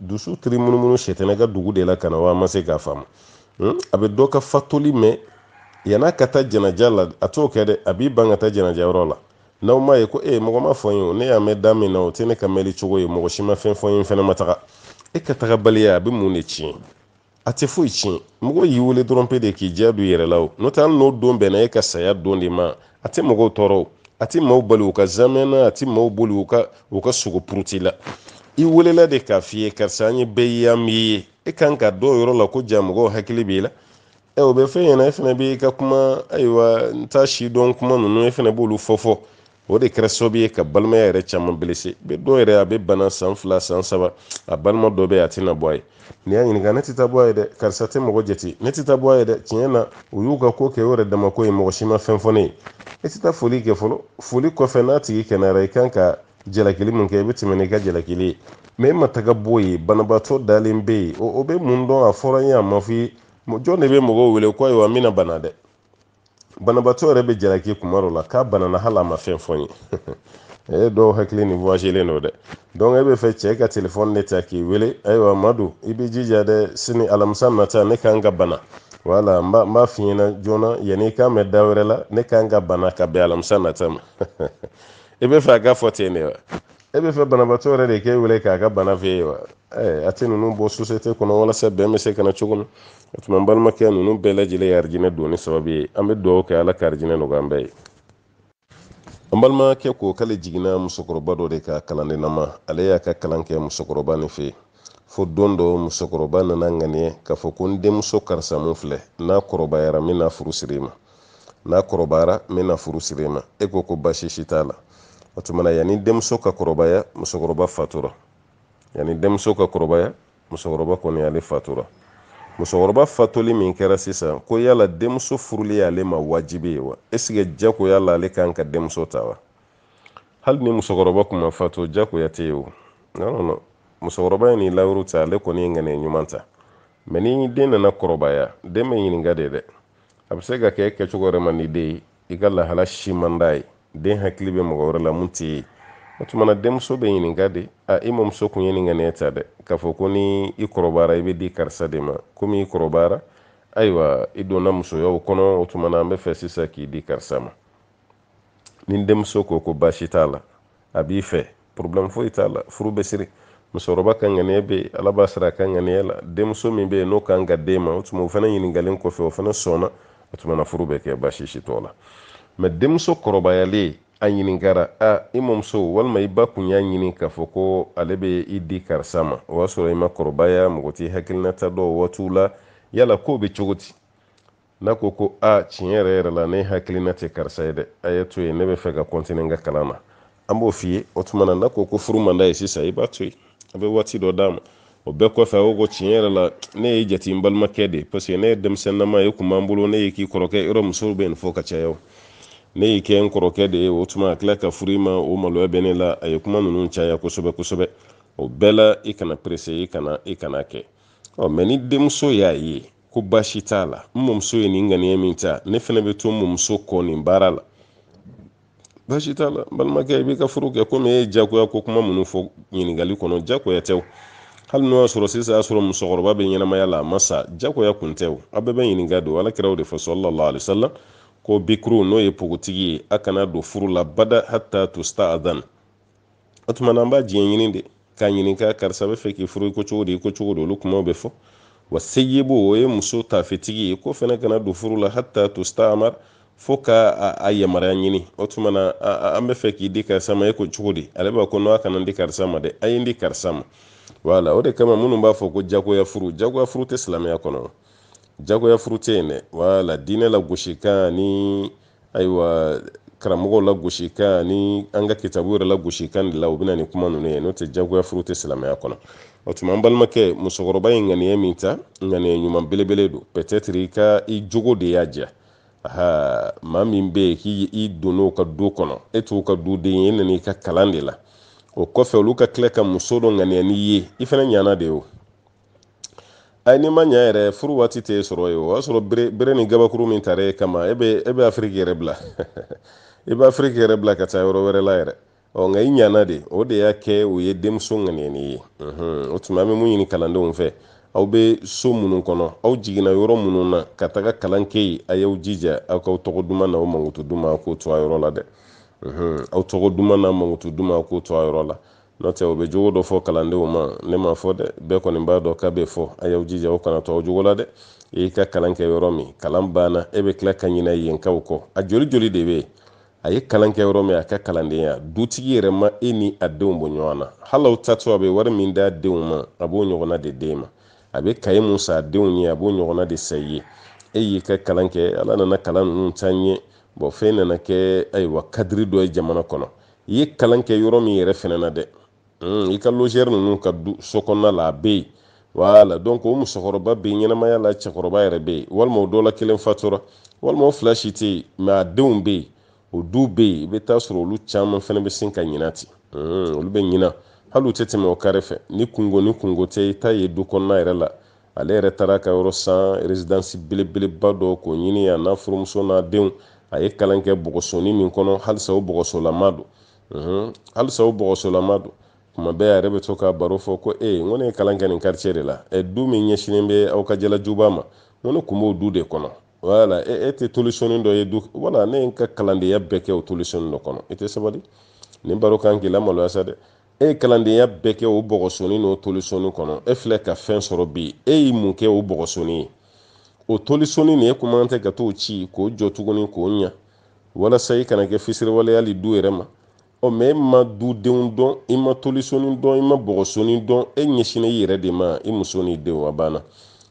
dusu tiri munumunu sɛtɛnɛ ka dugu de la ka na wa ma se k'a faamu hmm? a bɛ dɔ ka fatuli mɛn yan'a ka taa jɛnɛja la a t'o kɛ dɛ a b'i ban ka taa jɛnɛja yɔrɔ la n'aw m'a ye ko mɔgɔ m'a fɔ n ye o ne y'a mɛn da min na o tɛ ne ka mɛli cogo ye mɔgɔ si ma fɛn fɔ n ye n fɛnɛ ma taga e ka tagabaliya a bɛ mun de tiɲɛ a tɛ foyi tiɲɛ mɔgɔ y'i wele dɔrɔn pe de k'i diya don i yɛrɛ la o n'o tɛ hali n'o don bɛnna e ka saya don de ma a tɛ mɔgɔw tɔɔrɔ o a tɛ maaw bali u ka zamɛ na a tɛ maaw bali u ka u ka sogo puruti la i welela de k'a f'i ye karisa an ye bɛɛ ye an m'i ye e kan k'a dɔn o yɔrɔ la ko ja mɔgɔw hakili b'i la ɛ o bɛ f'i ɲɛna e fana b'i ka kuma ayiwa n t'a si dɔn kuma ninnu e fana b'olu fɔ fɔ o de kɛra sababu ye ka balimaya yɛrɛ caman belese bi dɔw yɛrɛ a bɛ bana san fila san saba a balima dɔ bɛ yen a tɛna bɔ a ye n'i y'a ɲininka ne tɛ taa bɔ a ye dɛ karisa tɛ mɔgɔ jate ne tɛ taa bɔ a ye dɛ tiɲɛ na u y'u ka ko kɛ u yɛrɛ dama ko ye mɔgɔ si ma fɛn fɔ ne ye e tɛ taa foli kɛ fɔlɔ foli kɔfɛ n'a tigi kɛnɛyara i kan ka jalakili min kɛ i bɛ tɛmɛ n'i ka jalakili ye mɛ e ma taga b'o ye banabaatɔ dalen bɛ yen o bɛ mun dɔn a fɔra n ye a ma f'i ye jɔn de bɛ mɔgɔw wele ko ayiwa n bɛna bana dɛ banabaatɔ yɛrɛ bɛ jalaki kuma dɔ la k'a banana hali a ma fɛn fɔ n ye e dɔw hakili ni voyagelen don dɛ donc e bɛ fɛ cɛ ka telefɔni de ta k'i wele ayiwa madu i b'i jija dɛ sini alamisa nata ne kan ka bana wala n b'a f'i ɲɛna joona yanni i k'a mɛn da wɛrɛ la ne kan ka bana ka bɛn alamisa nata ma i bɛ fɛ a ka fɔ ten de wa e bɛ fɛ banabaatɔ yɛrɛ de k'e wele k'a ka bana f'e ye wa a tɛ ninnu bɔ sosiyete kɔnɔ walasa bɛn bɛ se ka na cogo min o tuma n balimakɛ ninnu bɛɛ lajɛlen ye arijinɛ donni sababu ye an bɛ dugawu kɛ ala ka arijinɛ nɔgɔya an bɛɛ ye an balimakɛ ko k'ale jiginna musokɔrɔba dɔ de kan kalan de nama ale y'a ka kalan kɛ musokɔrɔba nin fɛ fo don dɔ musokɔrɔba nana ŋaniya k'a fɔ ko n denmuso karisa min filɛ n'a kɔrɔbayara n bɛna furu siri i ma n'a kɔrɔbayara n bɛna furu siri e ma e ko ko baasi si t'a la o tuma na yanni denmuso ka kɔrɔbaya musokɔrɔba fatura yanni denmuso ka kɔrɔbaya musokɔrɔba kɔni ale fatura musokɔrɔba fatuli min kɛra sisan ko yala denmuso furuli y'ale ma wajibi ye wa est-ce que jagoya la ale kan ka denmuso ta wa hali ni musokɔrɔba tun ma fatu jagoya tɛ yen o non non musokɔrɔba ye nin layidu ta ale kɔni ye ŋaniya ɲuman ta mɛ ni den nana kɔrɔbaya den bɛ ɲininka de dɛ a bɛ se ka kɛ kɛcogo yɛrɛ man di den ye i ka lahala si man d'a ye den hakili bɛ mɔgɔ wɛrɛ la min t'i ye o tuma na denmuso bɛ ɲininka de a i mamuso kun ye nin ŋaniya ta dɛ k'a fɔ ko ni i kɔrɔbayara i bɛ di karisa de ma komi i kɔrɔbayara ayiwa i donna musoyaw kɔnɔ o tuma na an bɛ fɛ sisan k'i di karisa ma ni denmuso ko ko baasi t'a la a b'i fɛ problème foyi t'a la furu bɛ siri musokɔrɔba ka ŋaniya bɛ yen ala b'a sara a ka ŋaniya la denmuso min bɛ yen n'o kan ka d'e ma o tuma o fana ɲininkalen kɔfɛ o fana sɔnna o tuma na furu bɛ kɛ baasi si t'o la mɛ denmuso kɔrɔbayalen a ɲininkara a i mɔmuso walima i ba kun y'a ɲini k'a fɔ ko ale bɛ i di karisa ma o y'a sɔrɔ i ma kɔrɔbaya mɔgɔ t'i hakilinata dɔn o waatiw la yala k'o bɛ cogo di n'a ko ko a tiɲɛ yɛrɛ yɛrɛ la ne hakilina tɛ karisa ye dɛ a ye to yen ne bɛ fɛ ka kɔntini n ka kalan na an b'o f'i ye o tuma na n'a ko ko furu man d'a ye sisan i b'a to yen a bɛ waati dɔ d'a ma o bɛɛ kɔfɛ a ko ko tiɲɛ yɛrɛ la ne y'e jate n balimakɛ de ye paseke ne ye denmisɛnninama ye kun b'an bolo ne ye k'i kɔrɔkɛ yɔrɔ musow bɛ nin fɔ ka caya o ne y'i kɛ n kɔrɔkɛ de ye o tuma a tila ka furu i ma o maloya bɛ ne la a ye kuma ninnu caya kosɛbɛ kosɛbɛ o bɛɛ la i kana perese i kana i kana kɛ ɔ mɛ ni denmuso y'a ye ko baasi t'a la n mɔmuso ye nin ŋaniya min ta ne fana bɛ to n mɔmuso kɔ nin baara la baasi t'a la balimakɛ i b'i ka furu kɛ komi e ye jagoya ko kuma minnu fɔ ɲininkali kɔnɔ jagoya tɛ o hali n'o y'a sɔrɔ sisan y'a sɔrɔ musokɔrɔba bɛ ɲɛnamaya la a ma sa jagoya kun tɛ o a bɛɛ bɛ ɲininka don ala kira y'o de fɔ sallallahu alaihi wasallam ko bikuru n'o ye pogotigi ye a kana don furu la bada hatta tusta'adhan o tuma na an b'a diɲɛ ɲini de k'a ɲininka karisa bɛ fɛ k'i furu i ko cogo di i ko cogo di olu kumaw bɛ fɔ wa seyibo o ye muso tafetigi ye k'o fana kana don furu la hatta tusta'mar fo ka a yamaruya ɲini o tuma na an bɛ fɛ k'i di karisa ma e ko cogo di ale b'a ko n'a kana n di karisa ma dɛ a ye n di karisa ma wala o de kama minnu b'a fɔ ko jagoya furu jagoya furu tɛ silamɛya kɔnɔ jagoya furu tɛ yen dɛ wala diinɛ lagosikan ni ayiwa karamɔgɔw lagosikan ani an ka kitabu yɛrɛ lagosikan de la u bɛ na ni kuma ninnu ye n'o tɛ jagoya furu tɛ silamɛya kɔnɔ o tuma an balimakɛ musokɔrɔba ye ŋaniya min ta ŋaniya ɲuman belebele don peut-être i ka i jogo de y'a diya aha maa min bɛ yen k'i i donn'o ka du kɔnɔ e t'o ka duden ye e nana i ka kalan de la o kɔfɛ olu ka tila ka muso dɔ ŋaniya n'i ye i fana ɲana de ye o ayi n'i ma ɲɛ yɛrɛ furu waati tɛ sɔrɔ yen o y'a sɔrɔ bere bere ni gabakuru min tara e kama e bɛ e bɛ afiriki yɛrɛ bila i bɛ afiriki yɛrɛ bila ka taa yɔrɔ wɛrɛ la yɛrɛ ɔ nka i ɲana de o de y'a kɛ o ye denmuso ŋaniya i ye o tuma an bɛ mun ɲini kalandenw fɛ aw bɛ so minnu kɔnɔ aw jiginna yɔrɔ minnu na ka taga kalan kɛ yen a y'aw jija aw k'aw tɔgɔ duman n'aw mankutu duman k'o to a yɔrɔ la dɛ aw tɔgɔ duman n'aw mankutu duman k'o to a yɔrɔ la n'o tɛ o bɛ jogo dɔ fɔ kalandenw ma ne m'a fɔ dɛ bɛɛ kɔni b'a dɔn k'a bɛ fɔ a y'aw jija aw kana to aw jogo la dɛ e y'i ka kalan kɛ yɔrɔ min kalan banna e bɛ tila ka ɲinɛ yenkaw kɔ a joli joli de bɛ yen a ye kalan kɛ yɔrɔ min a ka kalandenya dutigi yɛrɛ ma e ni a denw bɔ ɲɔgɔn na hali aw taatɔ a bɛ wari min d'a denw ma a b'o ɲɔgɔnna de d'e ma a bɛ kaye min san a denw ye a b'o ɲɔgɔnna de san i ye e y'i ka kalan kɛ ala nana kalan ninnu taa ɲɛ bon fɛn nana kɛ ayiwa kadiri dɔ ye jamana kɔnɔ i ye kalan kɛ yɔrɔ min yɛrɛ fɛnɛ na dɛ hmm, i ka logɛri ninnu ka du so kɔnɔna la a bɛ yen wala donc o musokɔrɔba bɛ ɲɛnamaya la cɛkɔrɔba yɛrɛ bɛ yen walima o dɔ la kelen fatura walima o fila si tɛ yen mɛ a denw bɛ yen o du bɛ yen i bɛ t'a sɔrɔ olu caman fɛnɛ bɛ sin ka ɲina ten hmm, olu bɛ ɲina hali u tɛ tɛmɛ o kare fɛ ni kungo ni kungo tɛ i ta ye du kɔnɔna yɛrɛ la ale yɛrɛ taara ka yɔrɔ san rezidansi belebeleba dɔ k'o ɲini a n'a furumuso n'a denw a ye kalan kɛ bɔgɔsoni min kɔnɔ halisa o bɔgɔsolama don mhm. halisa o bɔgɔsolama don kuma bɛɛ a yɛrɛ bɛ to ka baro fɔ ko e n ko ne ye kalan kɛ nin kartiye de la ɛ du min ɲɛsinen bɛ aw ka jalajuba ma n ko ne kun b'o du de kɔnɔ wala e, e tɛ tolisoni dɔ ye du wala ne ye n ka kalandenya bɛɛ kɛ o tolisoni dɔ kɔnɔ i tɛ sabali nin baro kan k'i lamaloya sa dɛ e ye kalandenya bɛɛ kɛ o bɔgɔsoni n'o tolisoni kɔnɔ e filɛ ka fɛn sɔrɔ bi e y'i mun kɛ o bɔgɔsoni ye o tolisoni nin e kuma tɛ ka t'o ci k'o jɔ tuguni k'o ɲa walasa i kana kɛ fisiriwale ye hali du yɛrɛ ma ɔ mɛ e ma dudenw dɔn i ma tolisoni dɔn i ma bɔgɔsoni dɔn e ɲɛsinna i yɛrɛ de ma i muso n'i denw a banna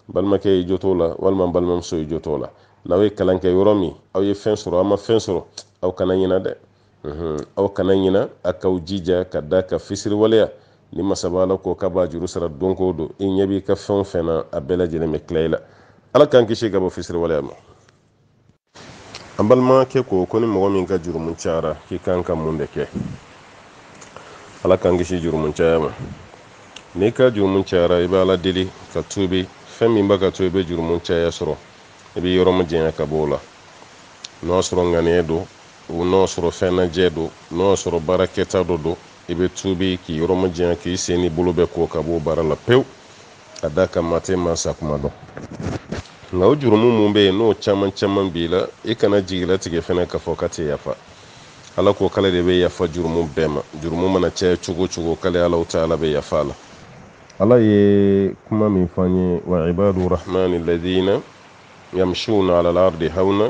balimakɛ y'i jant'o la walima balimamuso y'i jant'o la n'aw ye kalan kɛ yɔrɔ min aw ye fɛn sɔrɔ aw ma fɛn sɔrɔ aw kana ɲina dɛ aw kana ɲina a k'aw jija k'a da kan fisiriwaleya nin masaba ala ko k'a b'a juru sara don go don i ɲɛ b'i ka fɛn o fɛn na a bɛɛ lajɛlen bɛ tila i la ala k'an kisi ka bɔ fisiriwaleya ma an balimakɛ ko ko ni mɔgɔ min ka jurumu cayara k'i kan ka mun de kɛ ala k'an kisi jurumu caya ma n'i ka jurumu cayara i bɛ ala deli ka tuubi fɛn min b'a ka to i bɛ jurumu caya sɔrɔ i b'i yɔrɔ majanya ka bɔ o la n'o y'a sɔrɔ ŋaniya don o n'o sɔrɔ fɛn najɛ don n'o sɔrɔ baara kɛta dɔ don i bɛ tuubi k'i yɔrɔ majanya k'i sen n'i bolo bɛɛ ko ka b'o baara la pewu k'a da kan maa tɛ maa sakuma dɔn nka o jurumu min bɛ yen n'o caman caman b'i la i kana jigilatigɛ fana k'a fɔ k'a tɛ yafa ala ko k'ale de bɛ yafa jurumu bɛɛ ma jurumu mana caya cogo o cogo k'ale alahu taala bɛ yafa a la ala ye kuma min fɔ an ye wa ibadu rahmani ladina yamshuna ala al-ardi hawna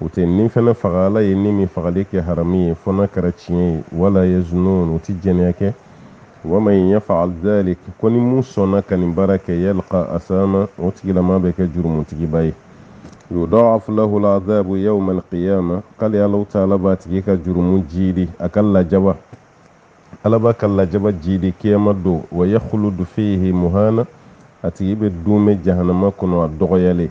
u tɛ ni fana faga ala ye ni min fagali kɛ haramu ye fo n'a kɛra tiɲɛ ye wala yaznun u tɛ jɛnɛya kɛ waman yaf'al dhalik ko ni mun sɔnna ka nin baara kɛ yalqa asama o tigilama bɛ kɛ jurumutigiba ye yudha'af lahu al azabu yawma alqiyama k'ale alahu taala b'a tigi ka jurumu jiidi a ka lajaba ala b'a ka lajaba jiidi kiyama don wa yakhludu fihi muhana a tigi bɛ duumɛ jahanama kɔnɔ a dɔgɔyalen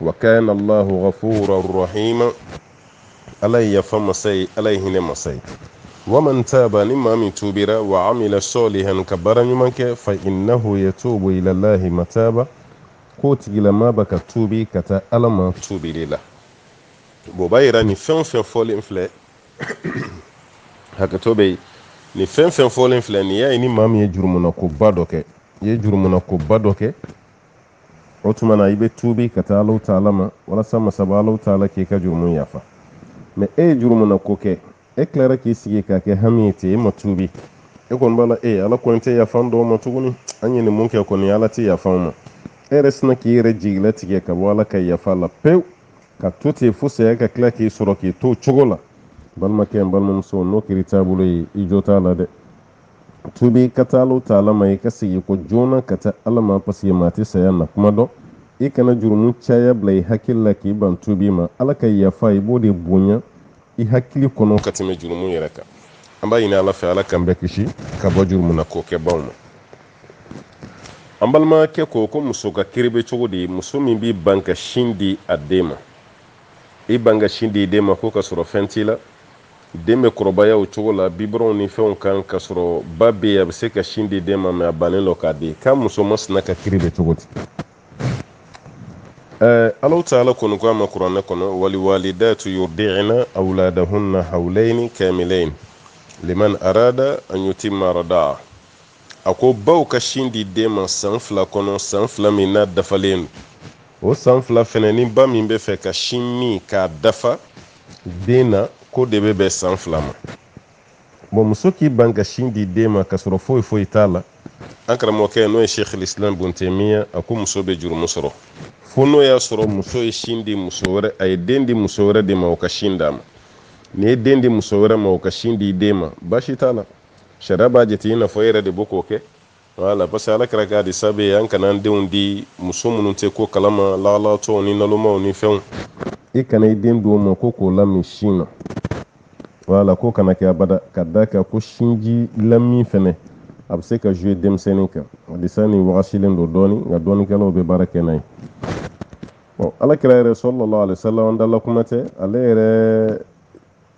wa kana allahu ghafuran rahima ala ye yafa masa ye ala ye hinɛ masa ye waman taba ni maa min tuubira wa amila salihan ka baara ɲuman kɛ fa innahu yatubu ilallahi mataba k'o tigilama bɛ ka tuubi ka taa ala ma tuubili la bɔn o b'a yira nin fɛn o fɛn fɔlen filɛ hakɛto bɛ yen nin fɛn fɛn fɔlen filɛ nin y'a ye ni maa min ye jurumuna ko ba dɔ kɛ i ye jurumuna ko ba dɔ kɛ o tuma na i bɛ tuubi ka taa alahu taala ma walasa masaba alahu taala k'i ka jurumu yafa mɛ e ye jurumu na ko kɛ e tilara k'i sigi k'a kɛ hami ye ten e ma tuubi e kɔni b'a la e ala kɔni tɛ yafa an dɔw ma tuguni an ye nin mun kɛ kɔni ala tɛ yafa an ma e yɛrɛ sinna k'i yɛrɛ jigi latigɛ ka bɔ ala ka yafa la pewu ka to ten fo saya ka tila k'i sɔrɔ k'i to cogo la balimakɛ n balimamuso n'o kɛra i taabolo ye i jo t'a la dɛ tuubi ka taa alahu taala ma i ka segin kɔ joona ka taa ala ma paseke maa tɛ saya na kuma dɔn i kana jurumu caya bila i hakili la k'i ban tuubi ma ala ka yafa i b'o de bonya i hakili kɔnɔ ka tɛmɛ jurumu yɛrɛ kan an b'a ɲini ala fɛ ala k'an bɛɛ kisi ka bɔ jurumu na ko kɛbaw ma an balimakɛ ko ko muso ka kiri bɛ cogo di muso min b'i ban ka sin di a den ma i ban ka sin di i den ma ko ka sɔrɔ fɛn t'i la den bɛ kɔrɔbaya o cogo la biberonw ni fɛnw kan ka sɔrɔ ba bɛ yen a bɛ se ka sin di den ma mɛ a bannen don k'a di k'a muso masina ka kiri bɛ cogo di ɛɛ alahu taala kɔni ko a ma kuranɛ kɔnɔ walwalidatu yurdi'na awladahunna hawlayni kamilayn liman arada an yutimma radaa a ko baw ka sin di den ma san fila kɔnɔ san fila min n'a dafalen don o san fila fɛnɛ ni ba min b'a fɛ ka sin min k'a dafa den na k'o de bɛ bɛn san fila ma bɔn muso k'i ban ka sin di den ma k'a sɔrɔ foyi foyi t'a la an karamɔgɔkɛ n'o ye sheikh lislam ibn taymiya a ko muso bɛ jurumu sɔrɔ fo n'o y'a sɔrɔ muso ye sin di muso wɛrɛ a ye den di muso wɛrɛ de ma o ka sin d'a ma n'i ye den di muso wɛrɛ ma o ka sin di den ma baasi t'a la sariya b'a jate i n'a fɔ e yɛrɛ de bɛ k'o kɛ Wala parce que ala kira ka hadisa bɛ yen an kana an denw di muso minnu tɛ ko kalama lagalagatɔw ni nalomaaw ni fɛnw i kana i den d'o ma ko k'o lamin sin na wala k'o kana kɛ abada ka da kan ko sinji lamin fɛnɛ a bɛ se ka jouer denmisɛnnin kan hadisa nin wagasilen don dɔɔni nka dɔɔnikɛlaw bɛ baara kɛ n'a ye ala kira yɛrɛ sallallahu alaihi wasallam an dala kuma tɛ ale yɛrɛ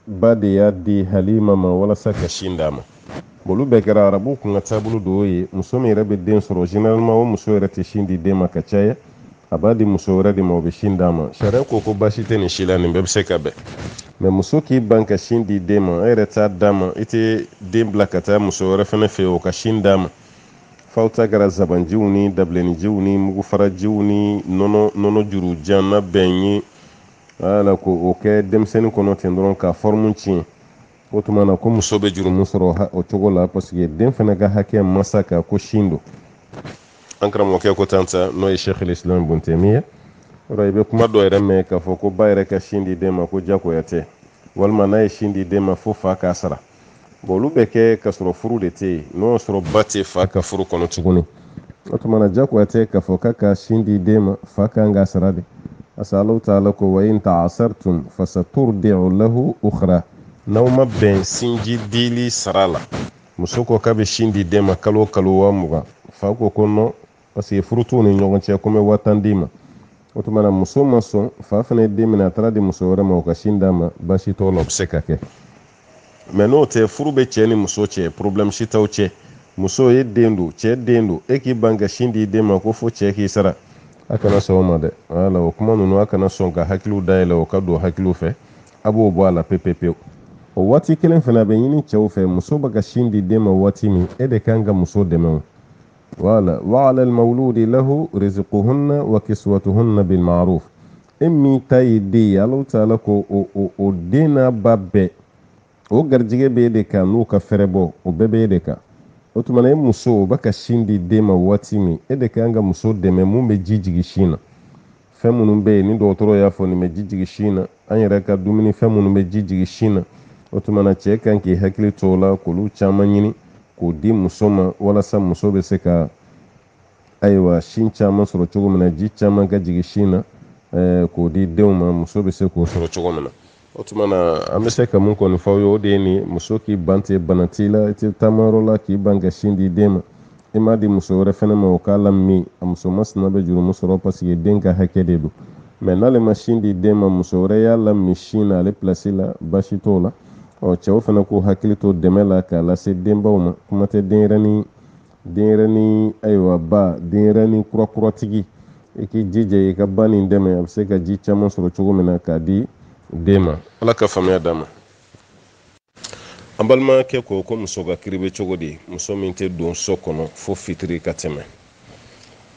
ba de y'a di halima ma walasa ka sin d'a ma olu bɛɛ kɛra arabu kun ka taabolo dɔw ye muso min yɛrɛ bɛ den sɔrɔ généralement o muso yɛrɛ tɛ sin di den ma ka caya a b'a di muso wɛrɛ de ma o bɛ sin d'a ma sariya ko ko baasi tɛ nin si la nin bɛɛ bɛ se ka bɛn mais muso k'i ban ka sin di den ma e yɛrɛ t'a d'a ma i tɛ den bila ka taa muso wɛrɛ fana fɛ o ka sin d'a ma f'aw ta kɛra zabanjiw ni dabilenninjiw ni mugufarajiw ni nɔnɔ nɔnɔ juru jan na bɛn ye wala k'o kɛ denmisɛnnin kɔnɔ ten dɔrɔn k'a forme tiɲɛ o tuma na ko muso bɛ jurumu sɔrɔ o cogo la parce que den fana ka hakɛ masa ka ko sin don an karamɔgɔkɛ ko tan sa n'o ye sheikh al-islam ibn taymiya ye ɔ i bɛ kuma dɔ yɛrɛ mɛn k'a fɔ ko ba yɛrɛ ka sin di den ma ko jagoya tɛ walima n'a ye sin di den ma fo fa k'a sara bon olu bɛ kɛ ka sɔrɔ furu de tɛ yen n'o y'a sɔrɔ ba tɛ fa ka furu kɔnɔ tuguni o tuma na jagoya tɛ k'a fɔ k'a ka sin di den ma fa kan k'a sara de parce que alahu taala ko wa in ta'asartum fasaturdi'u lahu ukhra n'aw ma bɛn sinji dili sara la muso ko k'a bɛ sin di den ma kalo o kalo waa mugan fa ko ko non parce que furu t'u ni ɲɔgɔn cɛ ko n bɛ waa tan d'i ma o tuma na muso ma sɔn fa fana ye den minɛ a taara a di muso wɛrɛ ma o ka sin d'a ma baasi t'o la o bɛ se ka kɛ mais n'o tɛ furu bɛ cɛ ni muso cɛ problème si t'aw cɛ muso e den don cɛ den don e k'i ban ka sin di den ma ko fo cɛ k'i sara a kana sɔn o ma dɛ wala o kuma ninnu a kana sɔn ka hakiliw dayɛlɛ o ka don hakiliw fɛ a b'o bɔ a la pepepewu o waati kelen fana a bɛ ɲini cɛw fɛ muso bɛ ka sin di den ma waati min e de kan ka muso dɛmɛ o voilà wa ala almawludi lahu rizquhunna wa kiswatuhunna bil ma'ruf e min ta ye den ye alahu taala ko o o o den n'a ba bɛɛ o garijɛgɛ bɛ e de kan n'o ka feerebɔ o bɛɛ bɛ e de kan o tuma na e muso o bɛ ka sin di den ma waati min e de kan ka muso dɛmɛ mun bɛ ji jigin sin na fɛn minnu bɛ yen ni dɔgɔtɔrɔ y'a fɔ nin bɛ ji jigin sin na an yɛrɛ ka dumuni fɛn minnu bɛ ji jigin sin na o tuma na cɛ kan k'i hakili to o la k'olu caman ɲini k'o di muso ma walasa muso bɛ se ka ayiwa sin caman sɔrɔ cogo min na ji caman ka jigin sin na eh, k'o di denw ma muso bɛ se k'o sɔrɔ cogo min na o tuma na an bɛ se ka mun kɔni fɔ aw ye o de ye nin muso k'i ban ten bana t'i la i tɛ taamayɔrɔ la k'i ban ka sin di den ma i m'a di muso wɛrɛ fana ma o k'a lamin a muso masina bɛ jurumu sɔrɔ parce que den ka hakɛ de don mais n'ale ma sin di den ma muso wɛrɛ y'a lamin sin na ale place la baasi t'o la ɔ cɛw fana k'u hakili to dɛmɛ la k'a lase denbaw ma kuma tɛ denyɛrɛnin denyɛrɛni ayiwa ba denyɛrɛni kurakuratigi i k'i jija i ka ba nin dɛmɛ a bɛ se ka ji caman sɔrɔ cogo min na k'a di den ma ala ka faamuya d'a ma an balimakɛ ko ko muso ka kiri bɛ cogo di muso min tɛ don so kɔnɔ fo fitiri ka tɛmɛ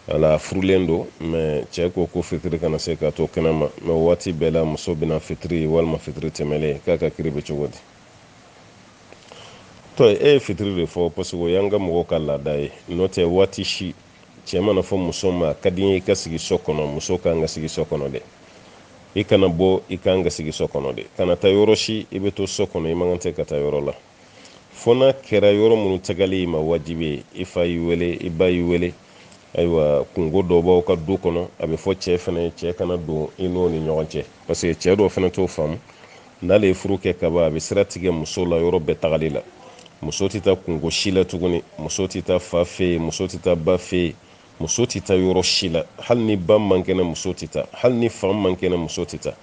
ale furulen don mais cɛ ko ko fitiri kana se k'a to kɛnɛma mais waati bɛɛ la muso bɛ na fitiri walima fitiri tɛmɛlen k'a ka kiri bɛ cogo di to e ye fitiri de fɔ parce que o y'an ka mɔgɔw ka laada ye n'o tɛ waati si cɛ mana fɔ muso ma a ka di n ye i ka sigi so kɔnɔ muso ka kan ka sigi so kɔnɔ dɛ i kana bɔ i ka kan ka sigi so kɔnɔ de kana taa yɔrɔ si i bɛ to so kɔnɔ i man kan tɛ ka taa yɔrɔ la fo n'a kɛra yɔrɔ minnu tagali i ma wajibi ye i fa y'i wele i ba y'i wele ayiwa kungo dɔ b'aw ka du kɔnɔ a bɛ fɔ cɛ fana ye cɛ kana don i n'o ni ɲɔgɔn cɛ parce que cɛ dɔw fana t'o faamu n'ale ye furu kɛ kaban a bɛ sira tigɛ muso la yɔrɔ bɛɛ tagali la muso tɛ taa kungo si la tuguni muso tɛ taa fa fɛ yen muso tɛ taa ba fɛ yen muso tɛ taa yɔrɔ si la hali ni ba man kɛnɛ muso tɛ taa hali ni fa man kɛnɛ muso tɛ taa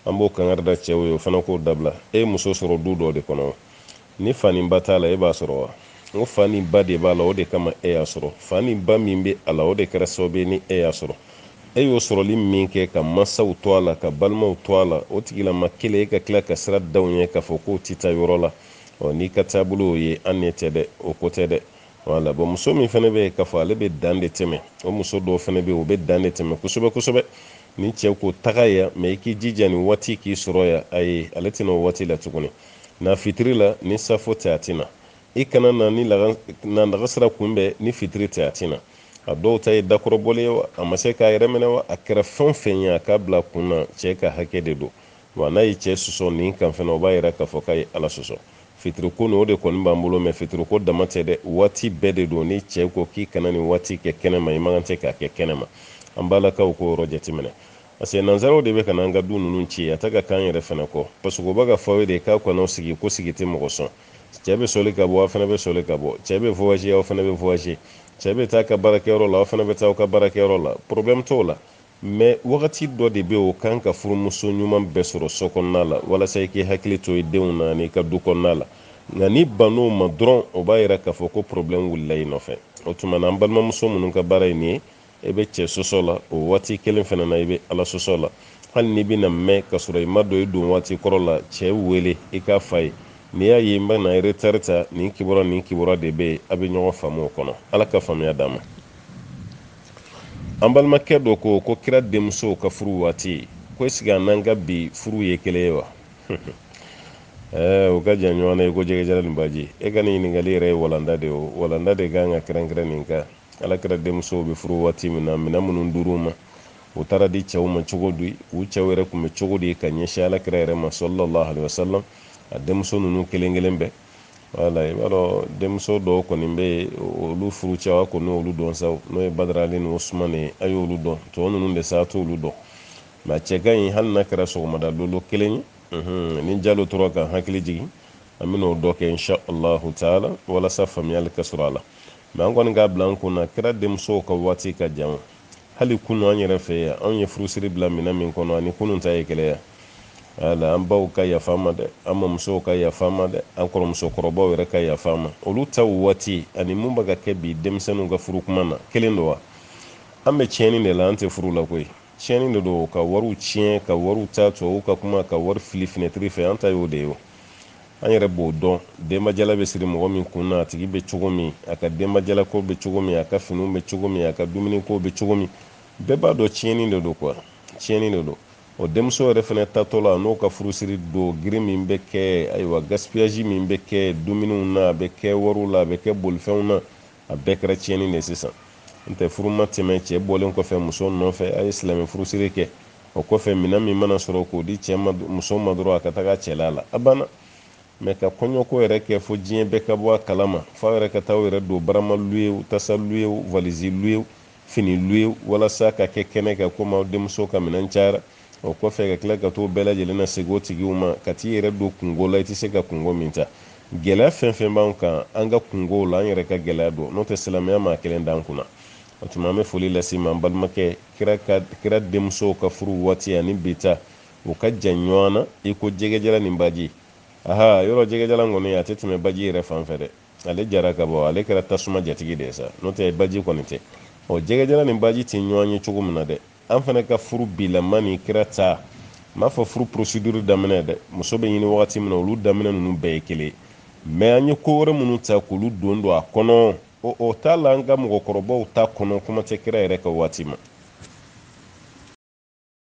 an b'o kangari da cɛw ye o fana k'o dabila e ye muso sɔrɔ du dɔ de kɔnɔ Ni fa ni ba t'a la, e b'a sɔrɔ wa? N ko, Fa ni ba de b'a la, o de kama e y'a sɔrɔ. Fa ni ba min bɛ a la, o de kɛra sababu ye ni e y'a sɔrɔ. E y'o sɔrɔli min kɛ, ka mansaw to a la, ka balimaw to a la, o tigilama kelen, e ka tila ka sira da o ɲɛ k'a fɔ k'o tɛ taa yɔrɔ la. Ɔ, n'i ka taabolo y'o ye, an n'e tɛ dɛ, o ko tɛ dɛ. Voilà. Bon, muso min fana bɛ yen k'a fɔ ale bɛ dan de tɛmɛ, o muso dɔw fana bɛ yen, o bɛ dan de tɛmɛ kosɛbɛ kosɛbɛ. Ni cɛ ko taga yan, mais i k'i jija nin waati k'i sɔrɔ yan, ayi, ale tɛ na o waati la tuguni. na fitiri la ni safo tɛ a tɛ na i ka na na lagansara kunbɛn ni fitiri tɛ a tɛ na a dɔw ta ye dakɔrɔbɔli ye wa a ma se k'a yɛrɛ minɛ wa a kɛra fɛn o fɛn ye a k'a bila kun na cɛ ka hakɛ de don wa n'a ye cɛ sɔsɔ nin kan fana o b'a yira k'a fɔ k'a ye ala sɔsɔ fitiriko nin o de kɔni b'an bolo mais fitiriko dama tɛ dɛ waati bɛɛ de don ni cɛ ko k'i kana nin waati kɛ kɛnɛma i man kan tɛ k'a kɛ kɛnɛma an balakaw k'o yɔrɔ jateminɛ parce que nansaraw de bɛ ka n'an ka du ninnu ci a tɛ ka k'an yɛrɛ fana kɔ parce que o bɛ k'a fɔ aw ye de k'aw kana sigi ko sigi tɛ mɔgɔ sɔn cɛ bɛ sɔli ka bɔ aw fana bɛ sɔli ka bɔ cɛ bɛ voyager aw fana bɛ voyager cɛ bɛ taa a ka baarakɛyɔrɔ la aw fana bɛ taa aw ka baarakɛyɔrɔ la problème t'o la mais wagati dɔ de bɛ o kan ka furumuso ɲuman bɛɛ sɔrɔ so kɔnɔna la walasa i k'i hakili to i denw na n'i ka du kɔnɔna la nka n'i bann'o ma dɔrɔn o b'a yira k'a fɔ ko problème wulila i nɔfɛ o tuma na an balimamuso minnu ka baara ye nin ye i bɛ cɛ sɔsɔ la o waati kelen fana na i bɛ ala sɔsɔ la hali n'i bɛna mɛn ka sɔrɔ i ma don i don waati kɔrɔ la cɛ wele i k'a f'a ye n'i y'a ye n bɛna retari ta nin kibaruya nin kibaruya de bɛ yen a bɛ ɲɔgɔn faamu o kɔnɔ ala ka faamuya d'an ma an balimakɛ dɔ ko ko kira denmuso ka furu waati ko est-ce que a n'an ka bi furu ye kelen ye wa eh, o ka jan ɲɔgɔn na i ko jɛgɛjala ni baji e ka nin ɲininkali yɛrɛ ye walanda de ye o walanda de kan ka kɛrɛnkɛrɛn nin kan alakira denmusow bɛ furu waati min na minɛn minnu dir'u ma u taara di cɛw ma cogo di u cɛw yɛrɛ tun bɛ cogo di ka ɲɛsin alakira yɛrɛ ma sallallahu alaihi wasallam a denmuso ninnu kelen kelen bɛɛ wala i b'a dɔn denmuso dɔw kɔni bɛ yen olu furu cɛw a kɔni olu dɔn sa n'o ye badara ali ni usumani a y'olu dɔn tɔ ninnu de sa t'olu dɔn nka cɛ ka ɲi hali n'a kɛra sɔgɔmada lolo kelen ye mhm, ni jalo tora ka hakili jigin an bɛna o dɔ kɛ insha allahu taala walasa faamuyali ka sɔrɔ a la mɛ an kɔni k'a bila an kun na kira denmusow ka waati ka jan hali kunu an yɛrɛ fɛ yan anw ye furusiri bila minɛn min kɔnɔ ani kunun ta ye kelen ye wa ala an baw ka yafa ma dɛ an mamusow ka yafa ma dɛ an kɔrɔmuso kɔrɔbaw yɛrɛ ka yafa ma olu ta waati ani mun bɛ ka kɛ bi denmisɛnninw ka furu kuma na kelen don wa an bɛ tiɲɛni de la an tɛ furu la koyi tiɲɛni de don ka wariw tiɲɛ ka wariw ta tubabuw ka kuma ka wari fili finɛtiri fɛ an ta y'o de ye an yɛrɛ b'o dɔn denbajala bɛ siri mɔgɔ min kun na a tigi bɛ cogo min a ka denbajalako bɛ cogo min a ka finiw bɛ cogo min a ka dumuniko bɛ cogo min bɛɛ b'a dɔn tiɲɛni de don kuwa tiɲɛni de don o denmuso yɛrɛ fana taatɔ la n'o ka furusiri don girin min bɛ kɛ ayiwa gaspiyasi min bɛ kɛ dumuniw na a bɛ kɛ wariw la a bɛ kɛ bolifɛnw na a bɛɛ kɛra tiɲɛni de sisan n'o tɛ furu ma tɛmɛ cɛ bɔlen kɔfɛ muso nɔfɛ a ye silamɛ furusiri kɛ o kɔfɛ minɛn min mana sɔrɔ k'o di cɛ ma muso ma dɔrɔn a ka taga cɛla la a banna mɛ ka kɔɲɔko yɛrɛ kɛ fo diɲɛ bɛɛ ka bɔ a kalama f'a yɛrɛ ka taa u yɛrɛ don barama luyew tasa luyew valisi luyew fini luyew walasa ka kɛ kɛnɛ kɛ komi aw denmuso ka minɛn cayara o kɔfɛ ka tila ka t'o bɛɛ lajɛlen lasegin o tigiw ma ka t'i yɛrɛ don kunko la i tɛ se ka kunko min ta gɛlɛya fɛn fɛn b'an kan an ka kunkow la an yɛrɛ ka gɛlɛya don n'o tɛ silamɛya m'a kelen d'an kunna o tuma an bɛ foli lase ma an balimakɛ kira ka kira denmusow ka furu waati ani bi ta u ka jan ɲɔgɔn na i ko jɛgɛjala ni baji aha yɔrɔ jɛgɛjala kɔni a tɛ tɛmɛ baji yɛrɛ fan fɛ dɛ ale jara ka bɔ ale kɛra tasuma jatigi de ye sa n'o tɛ baji kɔni tɛ ɔ jɛgɛjala ni baji tɛ ɲɔgɔn ye cogo min na dɛ an fana ka furu bilama ni kira ta n m'a fɔ furu procédure daminɛ dɛ muso bɛ ɲini wagati min na olu daminɛ ninnu bɛɛ ye kelen mɛ an ye ko wɛrɛ minnu ta k'olu don don a kɔnɔ o o t'a la an ka mɔgɔkɔrɔbaw ta kɔnɔ kuma tɛ kira yɛrɛ ka waati ma